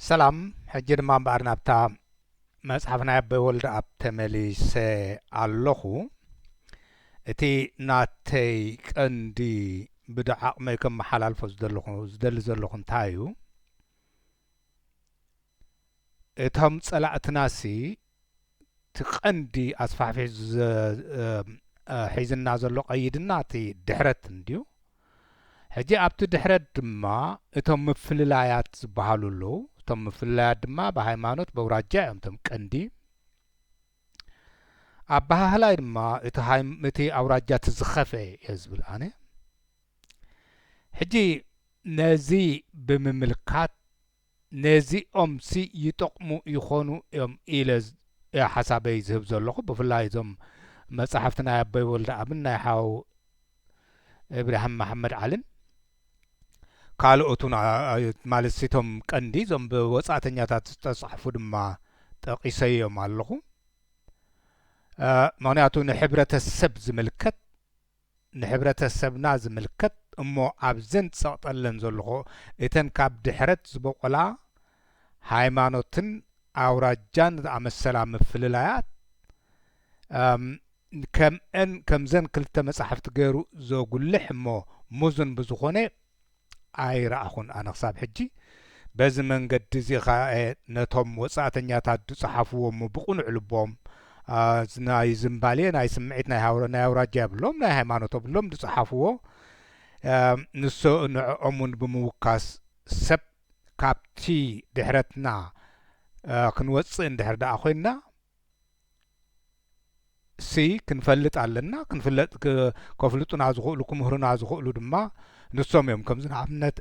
ሰላም ሕጂ ድማ እምበኣር ናብታ መጽሓፍ ናይ ኣቦይ ወልደኣብ ተመሊሰ ኣለኹ። እቲ ናተይ ቀንዲ ብዶ ዓቕመይ ከመሓላልፎ ዝደለኹ ዝደሊ ዘለኹ እንታይ እዩ፣ እቶም ጸላእትናሲ እቲ ቀንዲ ኣስፋሕፊሑ ሒዝና ዘሎ ቀይድና እቲ ድሕረት እንድዩ። ሕጂ ኣብቲ ድሕረት ድማ እቶም ምፍልላያት ዝበሃሉ ኣለዉ። እቶም ምፍልላያት ድማ ብሃይማኖት በውራጃ እዮም እቶም ቀንዲ። ኣበሃህላይ ድማ እቲ ኣውራጃ እቲ ዝኸፍኤ እየ ዝብል ኣነ። ሕጂ ነዚ ብምምልካት ነዚኦምሲ ይጠቕሙ ይኾኑ እዮም ኢለ እየ ሓሳበይ ዝህብ ዘለኹ። ብፍላይ እዞም መጻሕፍቲ ናይ ኣቦይ ወልደኣብን ናይ ሓው እብራሂም መሓመድዓልን ካልኦቱን ማለትሲ እቶም ቀንዲ እዞም ብወጻእተኛታት ዝተጻሕፉ ድማ ጠቒሰዮም ኣለኹ። ምኽንያቱ ንሕብረተሰብ ዝምልከት ንሕብረተሰብና ዝምልከት እሞ ኣብዘን ዝጸቕጠለን ዘልኹ እተን ካብ ድሕረት ዝቦቖላ ሃይማኖትን ኣውራጃን ዝኣመሰላ ምፍልላያት ከምእን ከምዘን ክልተ መጻሕፍቲ ገይሩ ዘጉልሕ እሞ ሙዝን ብዝኾነ ኣይረኣኹን ኣነ ክሳብ ሕጂ። በዚ መንገዲ እዚ ከኣ ነቶም ወጻእተኛታት ዝጸሓፍዎ እሞ ብቕኑዕ ልቦም ናይ ዝምባሌ ናይ ስምዒት ናይ ኣውራጃ የብሎም ናይ ሃይማኖት የብሎም ዝጸሓፍዎ ንሶ ንዕኦም እውን ብምውካስ ሰብ ካብቲ ድሕረትና ክንወጽእ እንድሕር ደኣ ኮይንና ሲ ክንፈልጥ ኣለና ክንፍለጥ ከፍልጡና ዝኽእሉ ክምህሩና ዝኽእሉ ድማ ንሶም እዮም ከምዚ ንኣብነት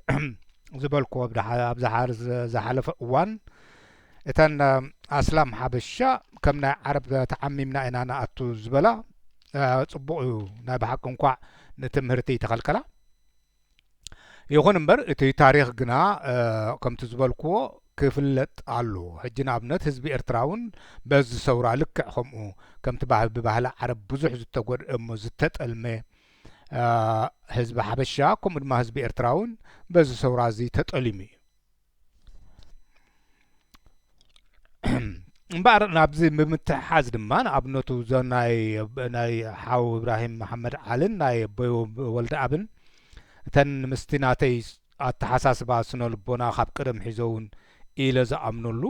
ዝበልኩ ኣብዝሓር ዝሓለፈ እዋን እተን ኣስላም ሓበሻ ከም ናይ ዓረብ ተዓሚምና ኢና ንኣቱ ዝበላ ፅቡቅ እዩ ናይ ብሓቂ እንኳዕ ንትምህርቲ ተኸልከላ ይኹን እምበር እቲ ታሪኽ ግና ከምቲ ዝበልክዎ ክፍለጥ ኣለዎ። ሕጂ ንኣብነት ህዝቢ ኤርትራ እውን በዚ ሰውራ ልክዕ ከምኡ ከምቲ ብባህሊ ዓረብ ብዙሕ ዝተጎድኤ እሞ ዝተጠልመ ህዝቢ ሓበሻ ከምኡ ድማ ህዝቢ ኤርትራ እውን በዚ ሰውራ እዚ ተጠሊሙ እዩ። እምበኣር ናብዚ ብምትሕሓዝ ድማ ንኣብነቱ እዞ ናይ ናይ ሓው እብራሂም መሓመድ ዓልን ናይ ኣቦይ ወልደኣብን እተን ምስቲ ናተይ ኣተሓሳስባ ስነ ልቦና ካብ ቅደም ሒዞ እውን ኢለ ዝኣምነሉ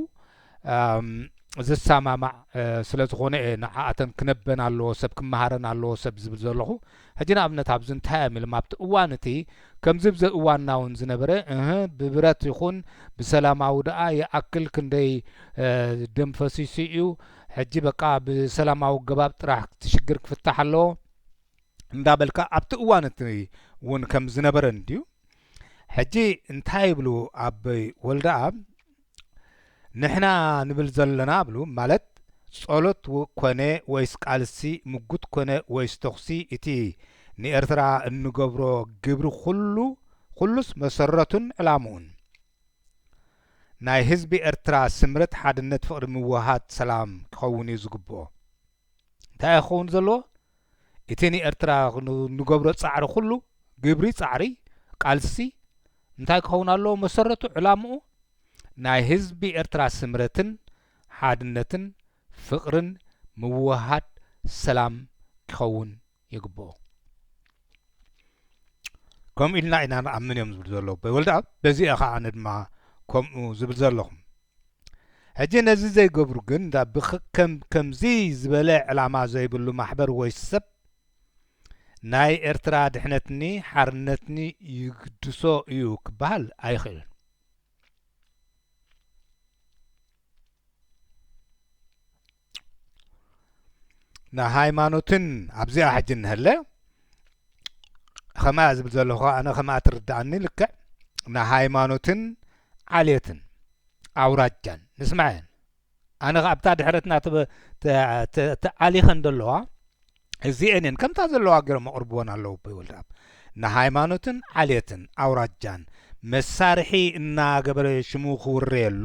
ዝሰማማዕ ስለ ዝኾነ እየ ንዓኣተን ክነበን ኣለዎ ሰብ ክመሃረን ኣለዎ ሰብ ዝብል ዘለኹ ሕጂ ንኣብነት ኣብዚ እንታይ እዮም ኢሎም ኣብቲ እዋን እቲ ከምዚ ብዘ እዋንና እውን ዝነበረ እህ ብብረት ይኹን ብሰላማዊ ደኣ ይኣክል ክንደይ ደም ፈሲሱ እዩ ሕጂ በቃ ብሰላማዊ ገባብ ጥራሕ ትሽግር ክፍታሕ ኣለዎ እንዳበልካ ኣብቲ እዋን እቲ እውን ከም ዝነበረ እንድዩ ሕጂ እንታይ ይብሉ ኣበይ ወልደኣብ ንሕና ንብል ዘሎና እብሉ ማለት ጸሎት ኮነ ወይስ ቃልሲ ምጉት ኮነ ወይስ ተኹሲ እቲ ንኤርትራ እንገብሮ ግብሪ ኩሉ ኩሉስ መሰረቱን ዕላምኡን ናይ ህዝቢ ኤርትራ ስምረት ሓድነት ፍቕሪ ምውህሃድ ሰላም ክኸውንዩ ዝግብኦ። እንታይ እዩ ክኸውን ዘለዎ? እቲ ንኤርትራ ንገብሮ ጻዕሪ ኩሉ፣ ግብሪ፣ ጻዕሪ፣ ቃልሲ፣ እንታይ ክኸውን ኣለዎ መሰረቱ፣ ዕላምኡ? ናይ ህዝቢ ኤርትራ ስምረትን ሓድነትን ፍቕርን ምውህሃድ ሰላም ኪኸውን ይግብኦ ከምኡ ኢልና ኢና ንኣምን እዮም ዝብሉ ዘለዉ ኣቦይ ወልደኣብ በዚ እየ ኸኣ ኣነ ድማ ከምኡ ዝብል ዘለኹ ሕጂ ነዚ ዘይገብሩ ግን እንዳ ብከም ከምዚ ዝበለ ዕላማ ዘይብሉ ማሕበር ወይ ሰብ ናይ ኤርትራ ድሕነትኒ ሓርነትኒ ይግድሶ እዩ ክበሃል ኣይኽእልን ንሃይማኖትን ኣብዚኣ ሕጂ እንሀለ ከምኣ ዝብል ዘለኹ ኣነ ከምኣ ትርድኣኒ ልክዕ ንሃይማኖትን ዓሌትን ኣውራጃን ንስማዐን ኣነ ኣብታ ድሕረትና ተኣሊኸን ዘለዋ እዚአን እየን ከምታ ዘለዋ ገይሮም ኣቕርብዎን ኣለዉ ኣቦይ ወልደኣብ ንሃይማኖትን ዓሌትን ኣውራጃን መሳርሒ እናገበረ ሽሙ ክውረየሉ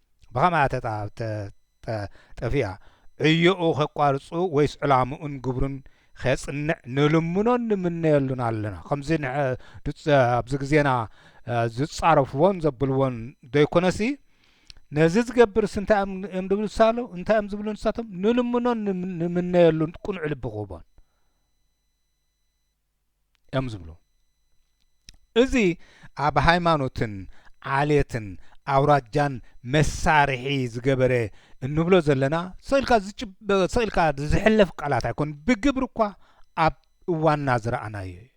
ብኸመይ ኣተጣጠፊኣ ዕዮኡ ኼቋርጹ ወይስ ዕላምኡን ግብሩን ኼጽንዕ ንልምኖን ንምነየሉን ኣለና። ከምዚ ኣብዚ ግዜና ዝጻረፍዎን ዘብልዎን ዘይኰነሲ፣ ነዚ ዝገብርስ እንታይ እዮም ዝብሉ ንሳቶም እንታይ እዮም ዝብሉ ንሳቶም ንልምኖን ንምነየሉን ቅኑዕ ልቢ ክህቦን እዮም ዝብሉ። እዚ ኣብ ሃይማኖትን ዓሌትን ኣውራጃን መሳርሒ ዝገበረ እንብሎ ዘለና ሰቂልካ ዝሕለፍ ቃላት ኣይኮነን፣ ብግብሪ እኳ ኣብ እዋንና ዝረኣናዮ እዩ።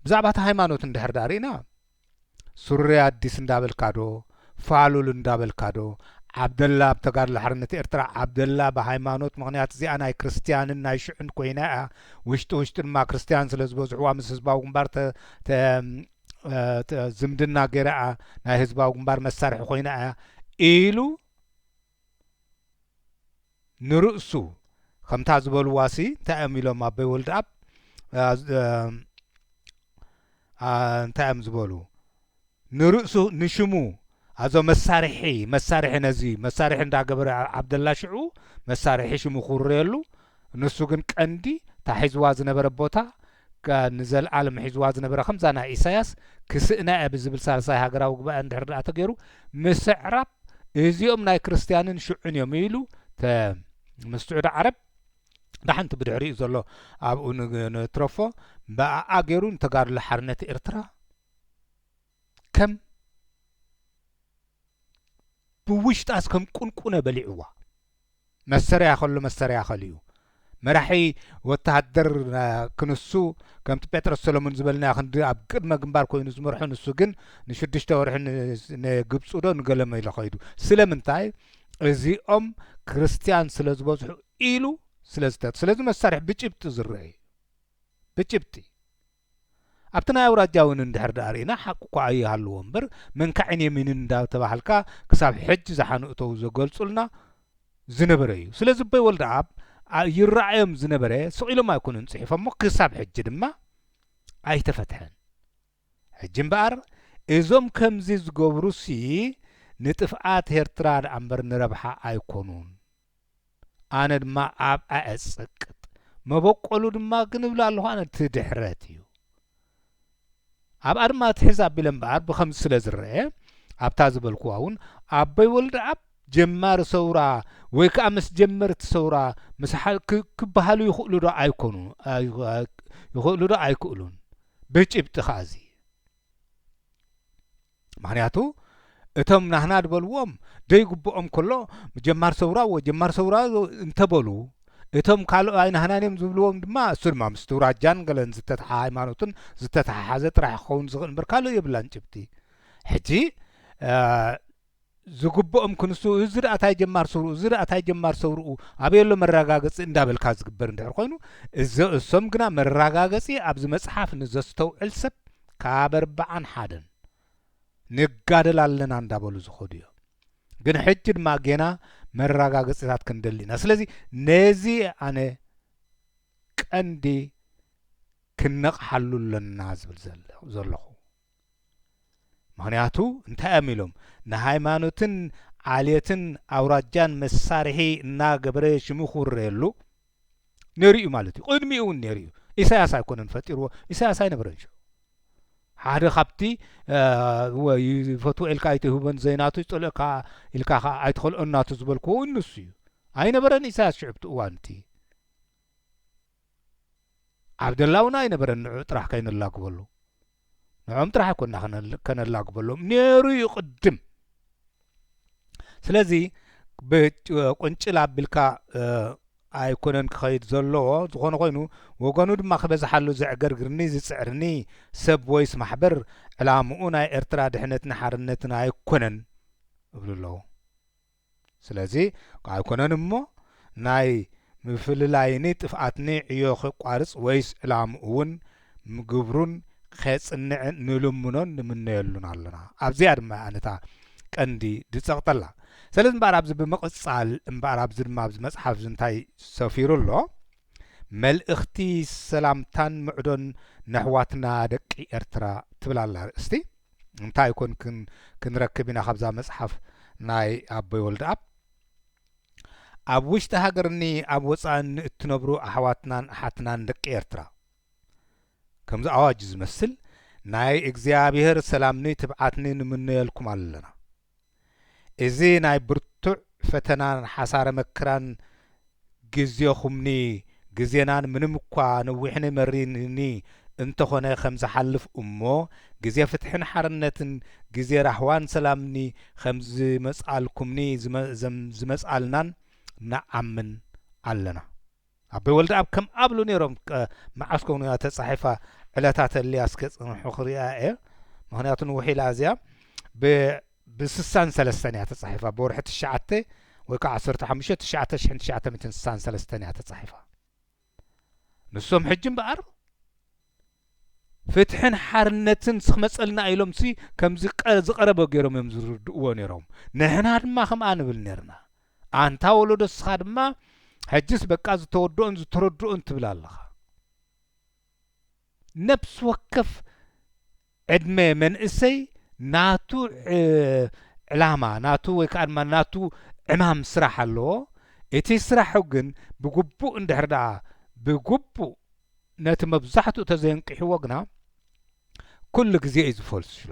ብዛዕባ እቲ ሃይማኖት እንድሕር ደኣ ርኢና ሱሪ ኣዲስ እንዳበልካ ዶ ፋሉል እንዳበልካ ዶ ዓብደላ ኣብ ተጋድሎ ሓርነት ኤርትራ ዓብደላ ብሃይማኖት ምኽንያት እዚኣ ናይ ክርስትያንን ናይ ሽዑን ኮይና እያ ውሽጢ ውሽጢ ድማ ክርስትያን ስለ ዝበዝሕዋ ምስ ህዝባዊ ግንባር ዝምድና ገይራ እያ ናይ ህዝባዊ ግንባር መሳርሒ ኮይና እያ ኢሉ ንርእሱ ከምታ ዝበልዋሲ እንታይ እዮም ኢሎም ኣቦይ ወልድኣብ እንታይ እዮም ዝበሉ ንርእሱ ንሽሙ ኣዞ መሳርሒ መሳርሒ ነዚ መሳርሒ እንዳገበረ ዓብደላ ሽዑ መሳርሒ ሽሙ ክውረየሉ ንሱ ግን ቀንዲ ታሒዝዋ ዝነበረ ቦታ ከኣ ንዘልኣለም ሒዝዋ ዝነበረ ከምዛ ናይ ኢሳያስ ክስእና እየ ብዝብል ሳልሳይ ሃገራዊ ጉባኤ እንድሕር ደኣ ተገይሩ ምስዕራብ እዚኦም ናይ ክርስትያንን ሽዑን እዮም ኢሉ ተ ምስ ስዑዲ ዓረብ ደሓን እቲ ብድሕሪኡ ዘሎ ኣብኡ ንትረፎ ብኣኣ ገይሩ ንተጋድሎ ሓርነት ኤርትራ ከም ብውሽጣስ ከም ቁንቁነ በሊዑዋ መስተርያ ከሎ መስተርያ ከሊኡ መራሒ ወተሃደር ክንሱ ከምቲ ጴጥሮስ ሰለሙን ዝበልናዮ ክንዲ ኣብ ቅድመ ግንባር ኮይኑ ዝመርሖ ንሱ ግን ንሽዱሽተ ወርሒ ንግብፁ ዶ ንገለመ ኢሎ ከይዱ ስለምንታይ እዚኦም ክርስትያን ስለ ዝበዝሑ ኢሉ ስለ ዝተ ስለዚ መሳርሒ ብጭብጢ ዝረአ እዩ ብጭብጢ ኣብቲ ናይ ኣውራጃ ውን እንድሕር ደኣ ርኢና ሓቂ እኳ ኣይሃልዎ እምበር መንካዕን የሚንን እንዳ ተባሃልካ ክሳብ ሕጂ ዝሓኑ እተው ዘገልጹልና ዝነበረ እዩ ስለዚ ኣቦይ ወልደኣብ ይረኣዮም ዝነበረ ስቅ ኢሎም ኣይኮኑን ጽሒፎሞ ክሳብ ሕጂ ድማ ኣይተፈትሐን ሕጂ እምበኣር እዞም ከምዚ ዝገብሩሲ ንጥፍኣት ኤርትራ ደኣምበር ንረብሓ ኣይኮኑን። ኣነ ድማ ኣብ ኣዐጸቅጥ መበቆሉ ድማ ግን እብል ኣለኹ ኣነ እቲ ድሕረት እዩ ኣብኣ ድማ ትሕዝ ኣቢለ እምበኣር ብኸምዚ ስለ ዝረአ ኣብታ ዝበልክዋ እውን ኣቦይ ወልደኣብ ጀማሪ ሰውራ ወይ ከዓ ምስ ጀመርቲ ሰውራ ምስ ክበሃሉ ይኽእሉ ዶ ኣይኮኑ ይኽእሉ ዶ ኣይክእሉን ብጭብጢ ከዓ እዚ ምክንያቱ እቶም ናህና ድበልዎም ደይግብኦም ከሎ ጀማር ሰውራ እዎ ጀማር ሰውራ እንተበሉ እቶም ካልኦ ኣይናህናን እዮም ዝብልዎም ድማ እሱ ድማ ምስቲ ውራጃን ገለን ዝተተሓ ሃይማኖትን ዝተተሓሓዘ ጥራሕ ክኸውን ዝኽእል እምበር ካልእ የብላን ጭብጢ ሕጂ ዝግብኦም ክንሱ እዚ ድኣ ታይ ጀማር ሰውርኡ እዚ ድኣ ታይ ጀማር ሰውርኡ ኣበይ ኣሎ መራጋገጺ እንዳበልካ ዝግበር እንድሕር ኮይኑ እዞ እሶም ግና መራጋገጺ ኣብዚ መጽሓፍ ንዘስተውዕል ሰብ ካብ ኣርብዓን ሓደን ንጋደል ኣለና እንዳበሉ ዝኸዱ እዮም ግን ሕጂ ድማ ጌና መራጋገጺታት ክንደሊ ኢና ስለዚ ነዚ ኣነ ቀንዲ ክነቕሓሉ ኣለና ዝብል ዘለኹ ምኽንያቱ እንታይ እዮም ኢሎም ንሃይማኖትን ዓሌትን ኣውራጃን መሳርሒ እናገበረ ሽሙ ክውረየሉ ነይሩ እዩ ማለት እዩ። ቅድሚኡ እውን ነይሩ እዩ። ኢሳያስ ኣይኮነን ፈጢርዎ፣ ኢሳያስ ኣይነበረን ሽዑ። ሓደ ካብቲ ይፈትዎ ኢልካ ኣይትህቦን ዘይናቱ ይጸልእካ ኢልካ ከዓ ኣይትኸልኦን ናቱ ዝበልክዎ ንሱ እዩ። ኣይነበረን ኢሳያስ ሽዑ ኣብቲ እዋን እቲ ኣብ ደላውና ኣይነበረን ንዑ ጥራሕ ከይነላግበሉ ንዖም ጥራሕ ኮና ከነላግበሎም ነይሩ እዩ ቅድም ስለዚ ቁንጭል ኣቢልካ ኣይኮነን ክኸይድ ዘለዎ ዝኾነ ኮይኑ ወገኑ ድማ ክበዝሓሉ ዘዕገርግርኒ ዝፅዕርኒ ሰብ ወይስ ማሕበር ዕላምኡ ናይ ኤርትራ ድሕነትን ሓርነትን ኣይኮነን እብሉ ኣለዉ ስለዚ ኣይኮነን እሞ ናይ ምፍልላይኒ ጥፍኣትኒ ዕዮ ኼቋርጽ ወይስ ዕላምኡውን ምግብሩን ኼጽንዕ ንልምኖን ንምነየሉን ኣሎና። ኣብዚኣ ድማ እያ ነታ ቀንዲ ድጸቕጠላ። ሰለዚ እምበኣር ኣብዚ ብምቕጻል እምበኣር ኣብዚ ድማ ኣብዚ መጽሓፍ እዚ እንታይ ሰፊሩ ኣሎ? መልእኽቲ ሰላምታን ምዕዶን ነሕዋትና ደቂ ኤርትራ ትብል ኣላ ኣርእስቲ እንታይ ኮን ክንረክብ ኢና ካብዛ መጽሓፍ ናይ ኣቦይ ወልደኣብ ኣብ ውሽጢ ሃገርኒ ኣብ ወጻእን ንእትነብሩ ኣሕዋትናን ኣሓትናን ደቂ ኤርትራ ከምዚ ኣዋጅ ዝመስል ናይ እግዚኣብሔር ሰላምኒ ትብዓትኒ ንምነየልኩም ኣለና እዚ ናይ ብርቱዕ ፈተናን ሓሳረ መክራን ግዜኹምኒ ግዜናን ምንም እኳ ነዊሕኒ መሪርኒ እንተኾነ ከም ዝሓልፍ እሞ ግዜ ፍትሕን ሓርነትን ግዜ ራህዋን ሰላምኒ ከም ዝመጽኣልኩምኒ ዝመጽኣልናን ንኣምን ኣለና። ኣቦይ ወልደኣብ ከም ኣብሉ ነይሮም መዓስ ኮን እያ ተጻሒፋ ዕለታ ተልያ እስከ ጽንሑ ክሪኣ እየ ምክንያቱ ንውሕ ኢላ እዚኣ ብ ብስሳን ሰለስተን እያ ተጻሒፋ ብወርሒ ትሽዓተ ወይ ከዓ ዓሰርተ ሓሙሽተ ትሽዓተ ሽሕን ትሽዓተ ሚእትን ስሳን ሰለስተን እያ ተጻሒፋ ንሶም ሕጂ እምበኣር ፍትሕን ሓርነትን ስክመጸልና ኢሎም ሲ ከምዚ ዝቀረበ ገሮም እዮም ዝርድእዎ ነሮም ንሕና ድማ ከምኣ ንብል ነርና ኣንታ ወሎዶ እስኻ ድማ ሕጅስ በቃ ዝተወድኦን ዝተረድኦን ትብል ኣለኻ ነብሲ ወከፍ ዕድመ መንእሰይ ናቱ ዕላማ ናቱ ወይ ከኣ ድማ ናቱ ዕማም ስራሕ ኣለዎ። እቲ ስራሑ ግን ብግቡእ እንድሕር ደኣ ብግቡእ ነቲ መብዛሕትኡ ተዘየንቂሕዎ ግና ኩሉ ግዜ እዩ ዝፈልስሎ።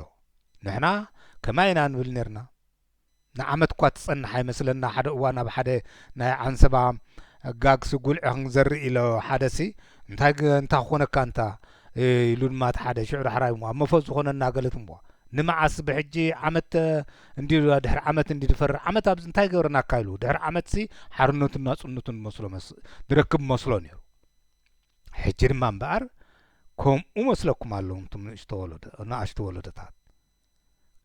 ንሕና ከማይ ኢና ንብል ኔርና። ንዓመት'ኳ ትጸንሕ ኣይመስለና ሓደ እዋን ኣብ ሓደ ናይ ዓንሰባ ጋግሲ ጉልዒ ክንዘርእ ኢሎ ሓደሲ እንታይ እንታ ክኾነካ እንታ ኢሉ ድማ እቲ ሓደ ሽዑ ዳሕራይ እሞ ኣብ መፎዝ ዝኾነና ገለት እሞ ንመዓስ ብሕጂ ዓመት እንዲ ድሕሪ ዓመት እንዲ ድፈርር ዓመት ኣብዚ እንታይ ገብረናካ ኢሉ ድሕሪ ዓመትሲ ሓርነቱን ናጽነቱን መስሎ ድረክብ መስሎ ነይሩ ሕጂ ድማ እምበኣር ከምኡ መስለኩም ኣለኹም እቱም ንእሽቶ ወለዶ ንኣሽቱ ወለዶታት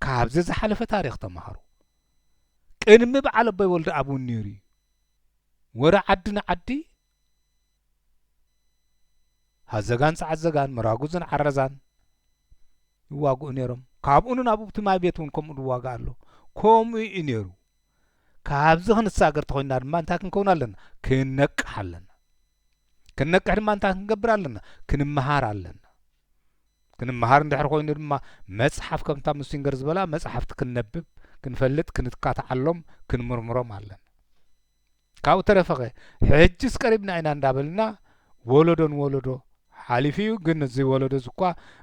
ካብዚ ዝሓለፈ ታሪኽ ተማሃሩ። ቅድሚ በዓል ኣቦይ ወልደ ኣብ እውን ነይሩ እዩ። ወረ ዓዲ ንዓዲ ሃዘጋን ጸዓዘጋን መራጉዝን ዓረዛን ይዋግኡ ነይሮም ካብኡ ናብ እቲ ማይ ቤት እውን ከምኡ ዝዋጋ ኣሎ ከምኡ እዩ ነይሩ ካብዚ ክንሳገር ተኮይና ድማ እንታይ ክንከውን ኣለና ክነቅሕ ኣለና ክንነቅሕ ድማ እንታይ ክንገብር ኣለና ክንመሃር ኣለና ክንመሃር እንድሕር ኮይኑ ድማ መፅሓፍ ከምታ ሙሲንገር ዝበላ መፅሓፍቲ ክንነብብ ክንፈልጥ ክንካትዓሎም ክንምርምሮም ኣለና ካብኡ ተረፈኸ ሕጅስ ቀሪብና ኢና እንዳበልና ወለዶ ንወለዶ ሓሊፉ እዩ ግን እዚ ወለዶ እዚ እኳ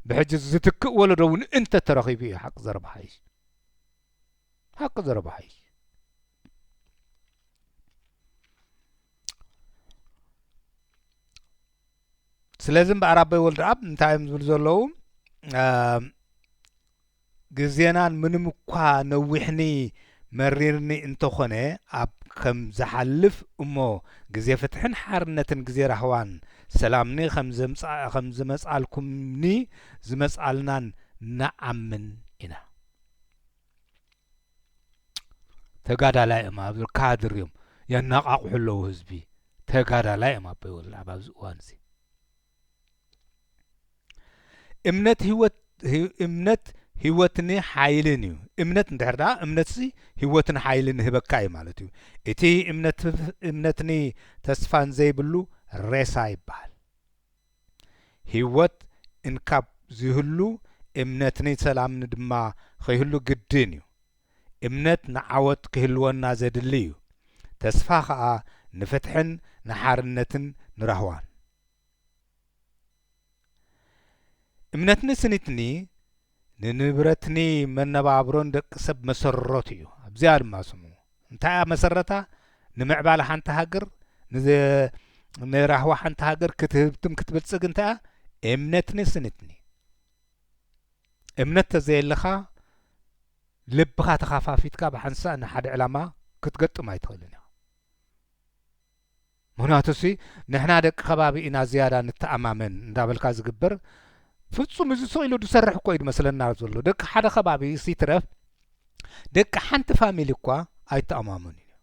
ብሕጂ ዝትክእ ወለዶ እውን እንተ ተረኺቡ እዩ ሓቂ ዘረባ ሓይሽ ሓቂ ዘረባ ሓይሽ ስለዚ እምበኣር ኣቦይ ወልድኣብ እንታይ እዮም ዝብሉ ዘለዉ ግዜናን ምንም እኳ ነዊሕኒ መሪርኒ እንተኾነ ኣብ ከም ዝሓልፍ እሞ ግዜ ፍትሕን ሓርነትን ግዜ ራህዋን ሰላምኒ ከም ዝመጻልኩምኒ ዝመጻልናን ንኣምን ኢና ተጋዳላይ እዮም ኣብ ካድር እዮም የናቃቕሑ ኣለዉ ህዝቢ ተጋዳላይ እዮም ኣቦይ ወልደኣብ ኣብዚ እዋን እዚ እምነት ህይወት እምነት ህይወትኒ ሓይልን እዩ እምነት እንድሕር ደኣ እምነትሲ ህይወትን ሓይልን ህበካ እዩ ማለት እዩ እቲ እምነት እምነትኒ ተስፋን ዘይብሉ ሬሳ ይበሃል ህይወት እንካብ ዝይህሉ እምነትኒ ሰላምኒ ድማ ኸይህሉ ግድን እዩ። እምነት ንዓወት ክህልወና ዘድሊ እዩ። ተስፋ ኸኣ ንፍትሕን ንሓርነትን ንራህዋን። እምነትኒ ስኒትኒ ንንብረትኒ መነባብሮን ደቂ ሰብ መሰረቱ እዩ ኣብዚኣ ድማ ስሙ እንታይ እያ መሰረታ ንምዕባለ ሓንቲ ሃገር ንራህዋ ሓንቲ ሃገር ክትህብትም ክትብልጽግ እንታይ እያ እምነትኒ ስንትኒ እምነት ተዘየለኻ ልብኻ ተኻፋፊትካ ብሓንሳእ ንሓደ ዕላማ ክትገጥም ኣይትኽእልን ኢኻ ምኽንያቱሲ ንሕና ደቂ ከባቢ ኢና ዝያዳ ንተኣማመን እንዳበልካ ዝግበር ፍጹም እዚ ስቕ ኢሉ ዝሰርሕ እኮ እዩ ዝመስለና ዘሎ ደቂ ሓደ ከባቢ እስ ይትረፍ ደቂ ሓንቲ ፋሚሊ እኳ ኣይተኣማመኑን እዮም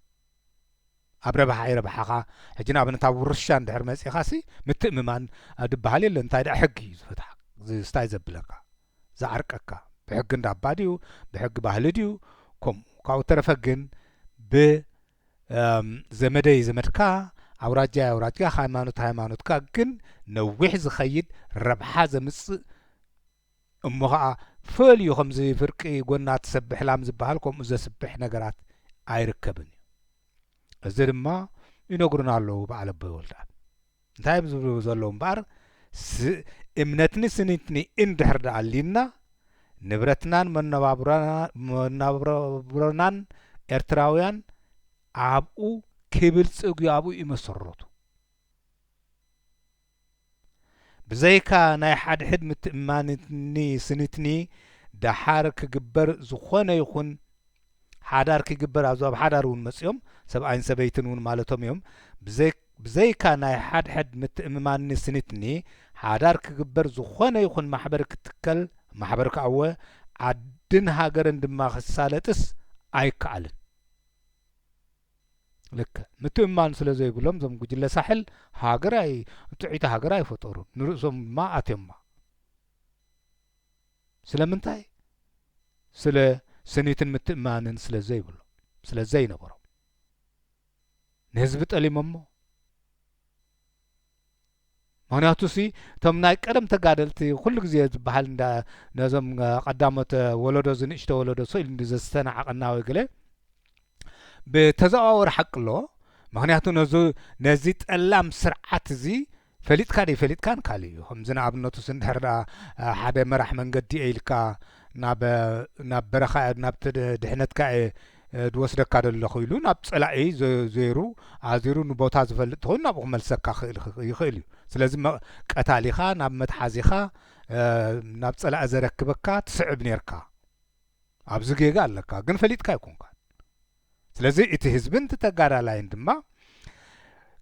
ኣብ ረብሓ ይረብሓኻ ሕጂ ንኣብነት ኣብ ውርሻ እንድሕር መጺኻሲ ምትእምማን ድበሃል የለን እንታይ ደኣ ሕጊ እዩ ዝፈትሓ ዝስታይ ዘብለካ ዝዓርቀካ ብሕጊ እንዳባ ድዩ ብሕጊ ባህሊ ድዩ ከምኡ ካብኡ ተረፈ ግን ብ ዘመደይ ዘመድካ ኣውራጃይ ኣውራጅካ ሃይማኖት ሃይማኖትካ ግን ነዊሕ ዝኸይድ ረብሓ ዘምጽእ እሞ ኸኣ ፈልዩ ከምዚ ፍርቂ ጎና ትሰብሕ ላም ዝበሃል ከምኡ ዘስብሕ ነገራት ኣይርከብን እዩ እዚ ድማ ይነግሩና ኣለዉ በዓል ኣቦይ ወልድኣብ እንታይ እዮም ዝብሉ ዘለዉ እምበኣር እምነትኒ ስኒትኒ እንድሕር ደኣ ኣልዩና ንብረትናን መነባብሮናን ኤርትራውያን ኣብኡ ክብልጽግ እዩ ኣብኡ ይመሰረቱ ብዘይካ ናይ ሓድሕድ ምትእማንኒ ስኒትኒ ደሓር ክግበር ዝኾነ ይኹን ሓዳር ኪግበር ኣብዚ ኣብ ሓዳር እውን መጺኦም ሰብኣይን ሰበይትን እውን ማለቶም እዮም ብዘይካ ናይ ሓድሕድ ምትእምማንኒ ስኒትኒ ሓዳር ኪግበር ዝኾነ ይኹን ማሕበር ኪትከል ማሕበር ክኣወ ዓድን ሃገርን ድማ ኪሳለጥስ ኣይከኣልን ልክ ምትእምማን ስለ ዘይብሎም እዞም ጉጅለ ሳሕል ሃገር ኣይ ጥዒቲ ሃገር ኣይፈጠሩን ንርእሶም ድማ ኣትዮማ ስለምንታይ ስለ ስኒትን ምትእምማንን ስለ ዘይብሎም ስለ ዘይነበሮም ንህዝቢ ጠሊሞሞ ምክንያቱ ሲ እቶም ናይ ቀደም ተጋደልቲ ኩሉ ግዜ ዝበሃል እንዳ ነዞም ቀዳሞት ወለዶ ዝንእሽተ ወለዶ ስኢሉ እንዲ ዘስተናዕቀና ወይ ገለ ብተዘዋወሪ ሓቂ ኣለዎ ምክንያቱ ነዚ ጠላም ስርዓት እዚ ፈሊጥካ ደይፈሊጥካን ካልእ እዩ ከምዚ ንኣብነቱስ እንድሕር ደኣ ሓደ መራሕ መንገዲ እየ ኢልካ ናብ ናብ በረኻ እየ ናብ ድሕነትካ እየ ድወስደካ ደለኹ ኢሉ ናብ ጸላኢ ዜሩ ኣዚሩ ንቦታ ዝፈልጥ ተኾይኑ ናብኡ ክመልሰካ ክእል ይኽእል እዩ ስለዚ ቀታሊኻ ናብ መትሓዚኻ ናብ ጸላኢ ዘረክበካ ትስዕብ ኔርካ ኣብዚ ጌጋ ኣለካ ግን ፈሊጥካ ኣይኮንካን ስለዚ እቲ ህዝብን እቲ ተጋዳላይን ድማ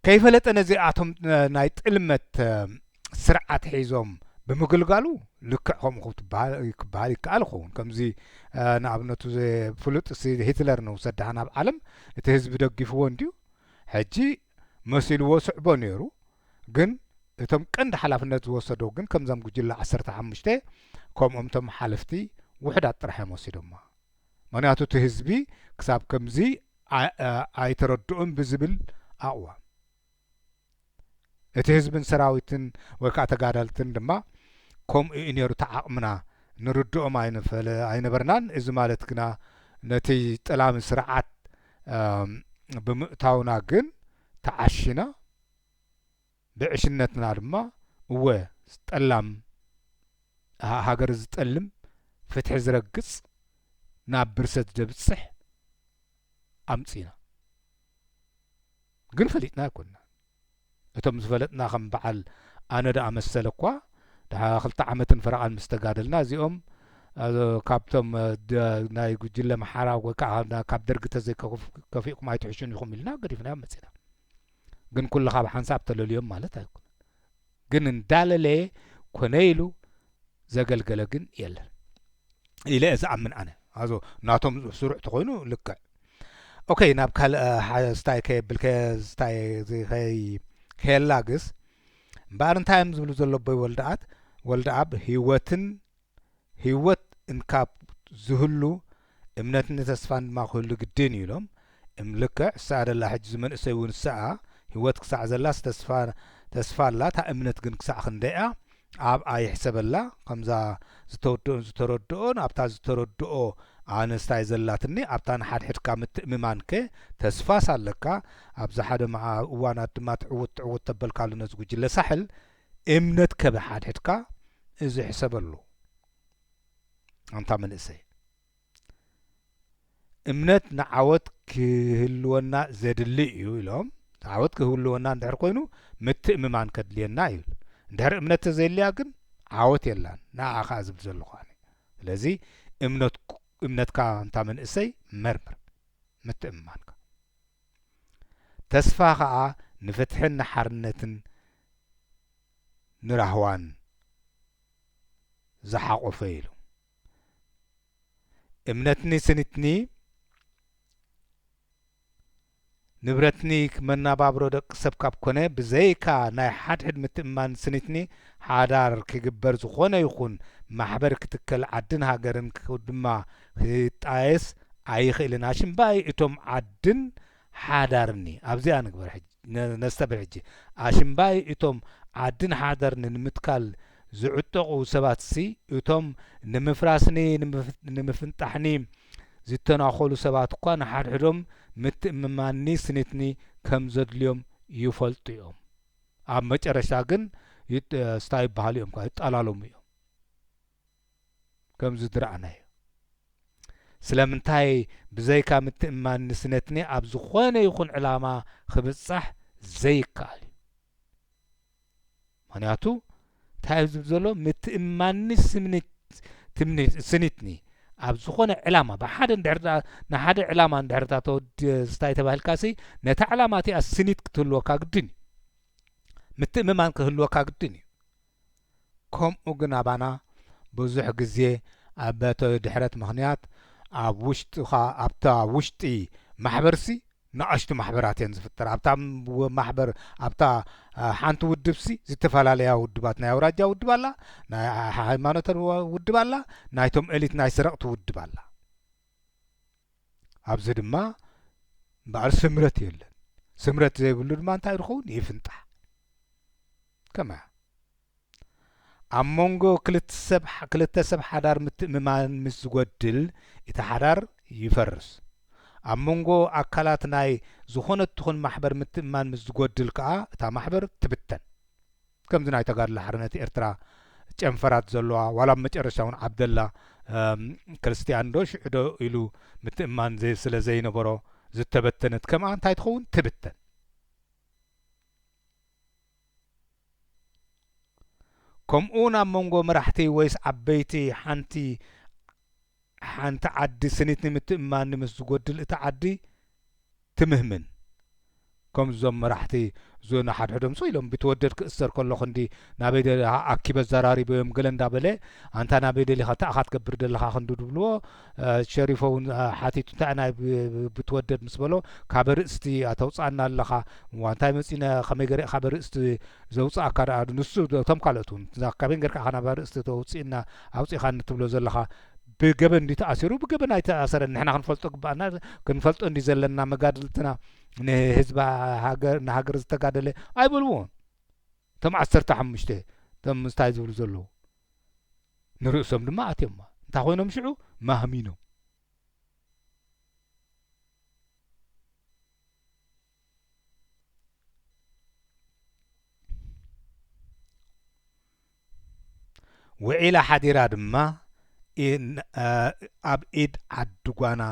ከይፈለጠ ነዚኣቶም ናይ ጥልመት ስርዓት ሒዞም ብምግልጋሉ ልክዕ ከምኡ ክበሃል ይከኣል ይኸውን ከምዚ ንኣብነቱ ፍሉጥ ሂትለር ንውሰድ ድሓን ኣብ ዓለም እቲ ህዝቢ ደጊፍዎ እንድዩ ሕጂ መሲልዎ ስዕቦ ነይሩ ግን እቶም ቀንዲ ሓላፍነት ዝወሰዶ ግን ከምዞም ጉጅለ ዓሰርተ ሓሙሽተ ከምኦም እቶም ሓለፍቲ ውሕዳት ጥራሕ እዮም ወሲዶማ ምኽንያቱ እቲ ህዝቢ ክሳብ ከምዚ ኣይተረድኦን ብዝብል ኣቕዋም እቲ ህዝብን ሰራዊትን ወይ ከዓ ተጋዳልትን ድማ ከምኡ እዩ ነይሩ እቲ ዓቕምና ንርድኦም ኣይነበርናን እዚ ማለት ግና ነቲ ጠላሚ ስርዓት ብምእታውና ግን ተዓሺና ብዕሽነትና ድማ እወ ጠላም ሃገር ዝጠልም ፍትሒ ዝረግጽ ናብ ብርሰት ዘብጽሕ ኣምጺና ግን ፈሊጥና ኣይኮናን እቶም ዝፈለጥና ከም በዓል ኣነ ደኣ መሰለኳ ደሓ ክልተ ዓመትን ፈረቓን ምስ ተጋደልና እዚኦም ካብቶም ናይ ጉጅለ መሓራ ወይ ከዓ ካብ ደርጊ ተዘይከፊእኩም ኣይትሕሹን ኢኹም ኢልና ገዲፍናዮም መጺና ግን ኩሉ ካብ ሓንሳብ ተለልዮም ማለት ኣይኮነ ግን እንዳለለየ ኮነ ኢሉ ዘገልገለ ግን የለን ኢለ እየ ዝኣምን ኣነ ኣዞ ናቶም ስሩዕ ተኮይኑ ልክዕ ኦኬ ናብ ካልእ ስታይ ከየብል ከስታይ ከይ ከየላግስ እምበኣር እንታይ እዮም ዝብሉ ዘሎ ኣቦይ ወልደኣት ወልደኣብ ህይወትን ህይወት እንካብ ዝህሉ እምነትን ተስፋን ድማ ክህሉ ግድን እዩ ኢሎም። እም ልክዕ ሰኣ ደላ ሕጂ እዚ መንእሰይ እውን ሰኣ ህይወት ክሳዕ ዘላስ ተስፋ ተስፋ ኣላ እታ እምነት ግን ክሳዕ ክንደይ እያ ኣብኣ ይሕሰበላ ከምዛ ዝተወደኦን ዝተረድኦን ኣብታ ዝተረድኦ ኣነስ ታይ ዘላትኒ ኣብታ ንሓድሕድካ ምትእምማን ከ ተስፋስ ኣለካ ኣብዛ ሓደ መዓ እዋናት ድማ ትዕውት ትዕውት ተበልካሉ ነዚ ጉጅለ ሳሕል እምነት ከብሓድሕድካ እዚ ሕሰበሉ ኣንታ መንእሰይ እምነት ንዓወት ክህልወና ዘድሊ እዩ ኢሎም ዓወት ክህልወና እንድሕር ኮይኑ ምትእምማን ከድልየና እዩ እንድሕር እምነት ተዘይልያ ግን ዓወት የላን ንኣ ከዓ ዝብል ዘለኹ ኣነ ስለዚ እምነትካ እንታ መንእሰይ መርምር ምትእምማንካ ተስፋ ከዓ ንፍትሕን ንሓርነትን ንራህዋን ዝሓቖፈ ኢሉ። እምነትኒ ስኒትኒ ንብረትኒ መናባብሮ ደቂ ሰብ ካብ ኮነ ብዘይካ ናይ ሓድሕድ ምትእምማን ስኒትኒ ሓዳር ክግበር ዝኾነ ይኹን ማሕበር ክትከል ዓድን ሃገርን ድማ ክጣየስ ኣይኽእልን ኣሽምባይ እቶም ዓድን ሓዳርኒ ኣብዚኣ ንግበር ሕጂ ነስተብህል ሕጂ ኣሽምባይ እቶም ዓድን ሓደርኒ ንምትካል ዝዕጠቁ ሰባትሲ እቶም ንምፍራስኒ ንምፍንጣሕኒ ዝተናኮሉ ሰባት እኳ ንሓድሕዶም ምትእምማንኒ ስኒትኒ ከም ዘድልዮም ይፈልጡ እዮም ኣብ መጨረሽታ ግን ስታ ይበሃሉ እዮም ይጠላለሙ እዮም ከም ዝድርኣናዮ ስለምንታይ ብዘይካ ምትእምማን ንስነትኒ ኣብ ዝኾነ ይኹን ዕላማ ክብጻሕ ዘይከኣል እዩ ምክንያቱ እንታይ እዩ ዝብል ዘሎ ምትእምማንኒ ስምኒት ስኒትኒ ኣብ ዝኾነ ዕላማ ብሓደ ድር ንሓደ ዕላማ ንድሕርታ ተወድስታይ ተባሂልካ ሲ ነታ ዕላማ እቲኣ ስኒት ክትህልወካ ግድን እዩ ምትእምማን ክህልወካ ግድን እዩ ከምኡ ግን ኣባና ብዙሕ ግዜ ኣበተ ድሕረት ምክንያት ኣብ ውሽጥካ ኣብታ ውሽጢ ማሕበርሲ ናኣሽቱ ማሕበራት እየን ዝፍጠራ ኣብታ ማሕበር ኣብታ ሓንቲ ውድብሲ ዝተፈላለያ ውድባት ናይ ኣውራጃ ውድብ ኣላ ናይ ሃይማኖተ ውድብ ኣላ ናይቶም ኤሊት ናይ ሰረቅቲ ውድብ ኣላ ኣብዚ ድማ እምበኣር ስምረት የለን። ስምረት ዘይብሉ ድማ እንታይ ድኸውን ይፍንጣሕ ከማያ ኣብ መንጎ ክልተ ሰብ ሓዳር ምትእምማን ምስ ዝጐድል እቲ ሓዳር ይፈርስ። ኣብ መንጎ ኣካላት ናይ ዝኾነት ትኹን ማሕበር ምትእምማን ምስ ዝጐድል ከኣ እታ ማሕበር ትብተን። ከምዚ ናይ ተጋድሎ ሓርነት ኤርትራ ጨንፈራት ዘሎዋ ዋላ ኣብ መጨረሻ ውን ዓብደላ ክርስትያን ዶ ሽዑ ዶ ኢሉ ምትእምማን ስለ ዘይነበሮ ዝተበተነት ከምኣ እንታይ ትኸውን ትብተን። ከምኡውን ኣብ መንጎ መራሕቲ ወይስ ዓበይቲ ሓንቲ ሓንቲ ዓዲ ስኒት ንምትእምማን ምስ ዝጎድል እታ ዓዲ ትምህምን። ከምዚ እዞም መራሕቲ እዞ ነሓድሕዶም ሱቕ ኢሎም ቢትወደድ ክእሰር ከሎ ክንዲ ናበይ ደሊኻ ኣኪበ ኣዛራሪበዮም ገለ እንዳ በለ ኣንታ ናበይ ደሊኻ እንታይ ኢኻ ትገብር ደለኻ ክንዲ ድብልዎ ሸሪፎ ውን ሓቲቱ እንታይ ናይ ቢትወደድ ምስ በሎ ካበ ርእስቲ ኣተውጻኣና ኣለኻ እዋ እንታይ መጺነ ከመይ ገረ ኢኻ ኣበ ርእስቲ ዘውጻኣካ ደኣ ንሱ እቶም ካልኦት ውን እዛ ካበይ ገርካ ኢኻ ናበ ርእስቲ ተውጽእና ኣውጺኻኒ ትብሎ ዘለኻ ብገበን እንድዩ ተኣሲሩ ብገበን ኣይተኣሰረን ንሕና ክንፈልጦ ግባኣና ክንፈልጦ እንድዩ ዘለና መጋድልትና ንህዝቢ ሃገር ንሃገር ዝተጋደለ ኣይበልዎን እቶም ዓሰርተ ሓሙሽተ እቶም ምስታይ ዝብሉ ዘለዉ ንርእሶም ድማ ኣትዮማ እንታይ ኮይኖም ሽዑ ማህሚኖም ውዒላ ሓዲራ ድማ ኣብ ኢድ ዓዲ ጓና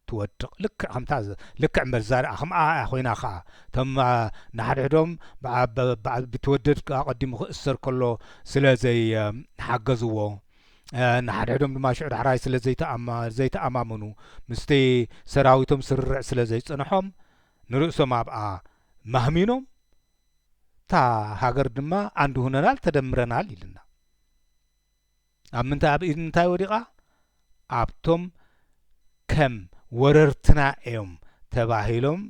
ትወድቕ ልክዕ ከምታ ልክዕ እምበር ዛር ከምኣ እያ ኮይና ከዓ እቶም ንሓድሕዶም ብትወደድ ኣቐዲሙ ክእሰር ከሎ ስለ ዘይሓገዝዎ ንሓድሕዶም ድማ ሽዑ ዳሕራይ ስለ ዘይተኣማምኑ ምስቲ ሰራዊቶም ስርርዕ ስለ ዘይፅንሖም ንርእሶም ኣብኣ ማህሚኖም እታ ሃገር ድማ ኣንድ ሁነናል ተደምረናል ይልና ኣብ ምንታይ ኣብ ኢድ ምንታይ ወዲቓ ኣብቶም ከም ወረርትና እዮም ተባሂሎም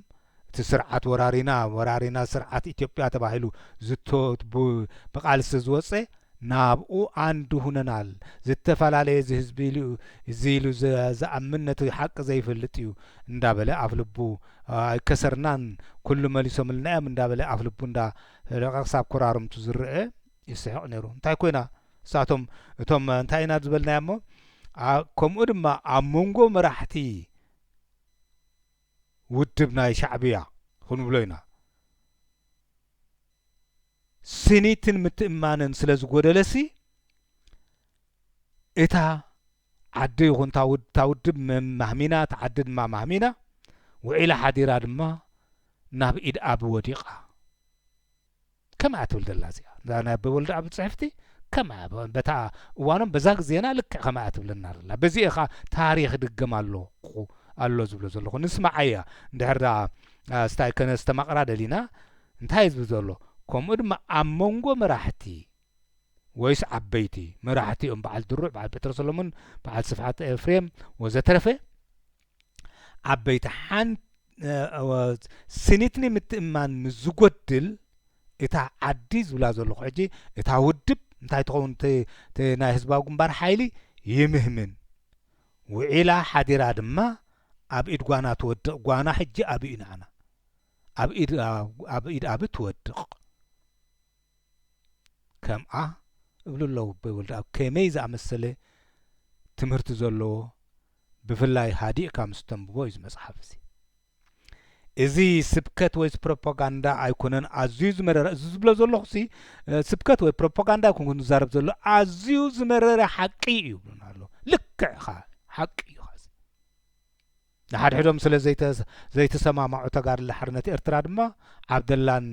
እቲ ስርዓት ወራሪና ወራሪና ስርዓት ኢትዮጵያ ተባሂሉ ዝቶ ብቃልሲ ዝወፀ ናብኡ ኣንድ ሁነናል ዝተፈላለየ ዝህዝቢ ኢሉ እዩ እዚ ኢሉ ዝኣምን ነቲ ሓቂ ዘይፈልጥ እዩ እንዳበለ ኣፍልቡ ኣይከሰርናን ኩሉ መሊሶምልና እዮም እንዳበለ ኣፍልቡ እንዳ ፈለቀ ክሳብ ኮራርምቱ ዝረኤ ይስሕቅ ነይሩ እንታይ ኮይና ንሳቶም እቶም እንታይ ኢና ዝበልናዮሞ ከምኡ ድማ ኣብ መንጎ መራሕቲ ውድብ ናይ ሻዕብያ ክንብሎ ኢና። ስኒትን ምትእምማንን ስለ ዝጎደለሲ እታ ዓዲ ይኹን እታ ውድብ ማህሚና እታ ዓዲ ድማ ማህሚና ውዒላ ሓዲራ ድማ ናብ ኢድ ኣቢ ወዲቓ። ከምኣ እያ ትብል ዘላ እዚኣ እዛ ናይ ኣበበ ወልደኣብ ጽሕፍቲ ከምኣ እያ በታ እዋኖም በዛ ግዜና ልክዕ ከምኣ እያ ትብለና ዘላ በዚ ኢኻ ታሪኽ ድገም ኣለኹ ኣሎ ዝብሎ ዘለኹ ንስማዓያ እንድሕር ስታይ ከነስተማቕራ ደሊና እንታይ ዝብል ዘሎ ከምኡ ድማ ኣብ መንጎ መራሕቲ ወይስ ዓበይቲ መራሕቲ እም በዓል ድሩዕ በዓል ጴጥሮስ ሰሎሞን በዓል ስፍሓት ኤፍሬም ወዘተረፈ ዓበይቲ ሓንቲ ስኒትኒ ምትእማን ምስ ዝጎድል እታ ዓዲ ዝብላ ዘለኹ ሕጂ እታ ውድብ እንታይ ትኸውን ናይ ህዝባዊ ግንባር ሓይሊ ይምህምን ውዒላ ሓዲራ ድማ ኣብ ኢድ ጓና ትወድቕ ጓና ሕጂ ኣብዩ ንዓና ኣብ ኢድ ኣብ ትወድቕ ከምኣ እብሉ ኣለዉ ኣቦይ ወልደኣብ ከመይ ዝኣመሰለ ትምህርቲ ዘለዎ ብፍላይ ሃዲእካ ምስ ተንብቦ እዩ መጽሓፍ እዚ እዚ ስብከት ወይስ ፕሮፓጋንዳ ኣይኮነን ኣዝዩ ዝመረረ እዚ ዝብሎ ዘለኹ ሲ ስብከት ወይ ፕሮፓጋንዳ ኣይኮንኩን ዝዛረብ ዘሎ ኣዝዩ ዝመረረ ሓቂ እዩ ይብሉና ኣሎ ልክዕ ኢኻ ሓቂ እዩ ንሓድሕዶም ስለ ዘይተሰማማዑ ተጋድሎ ሓርነት ኤርትራ ድማ ዓብደላን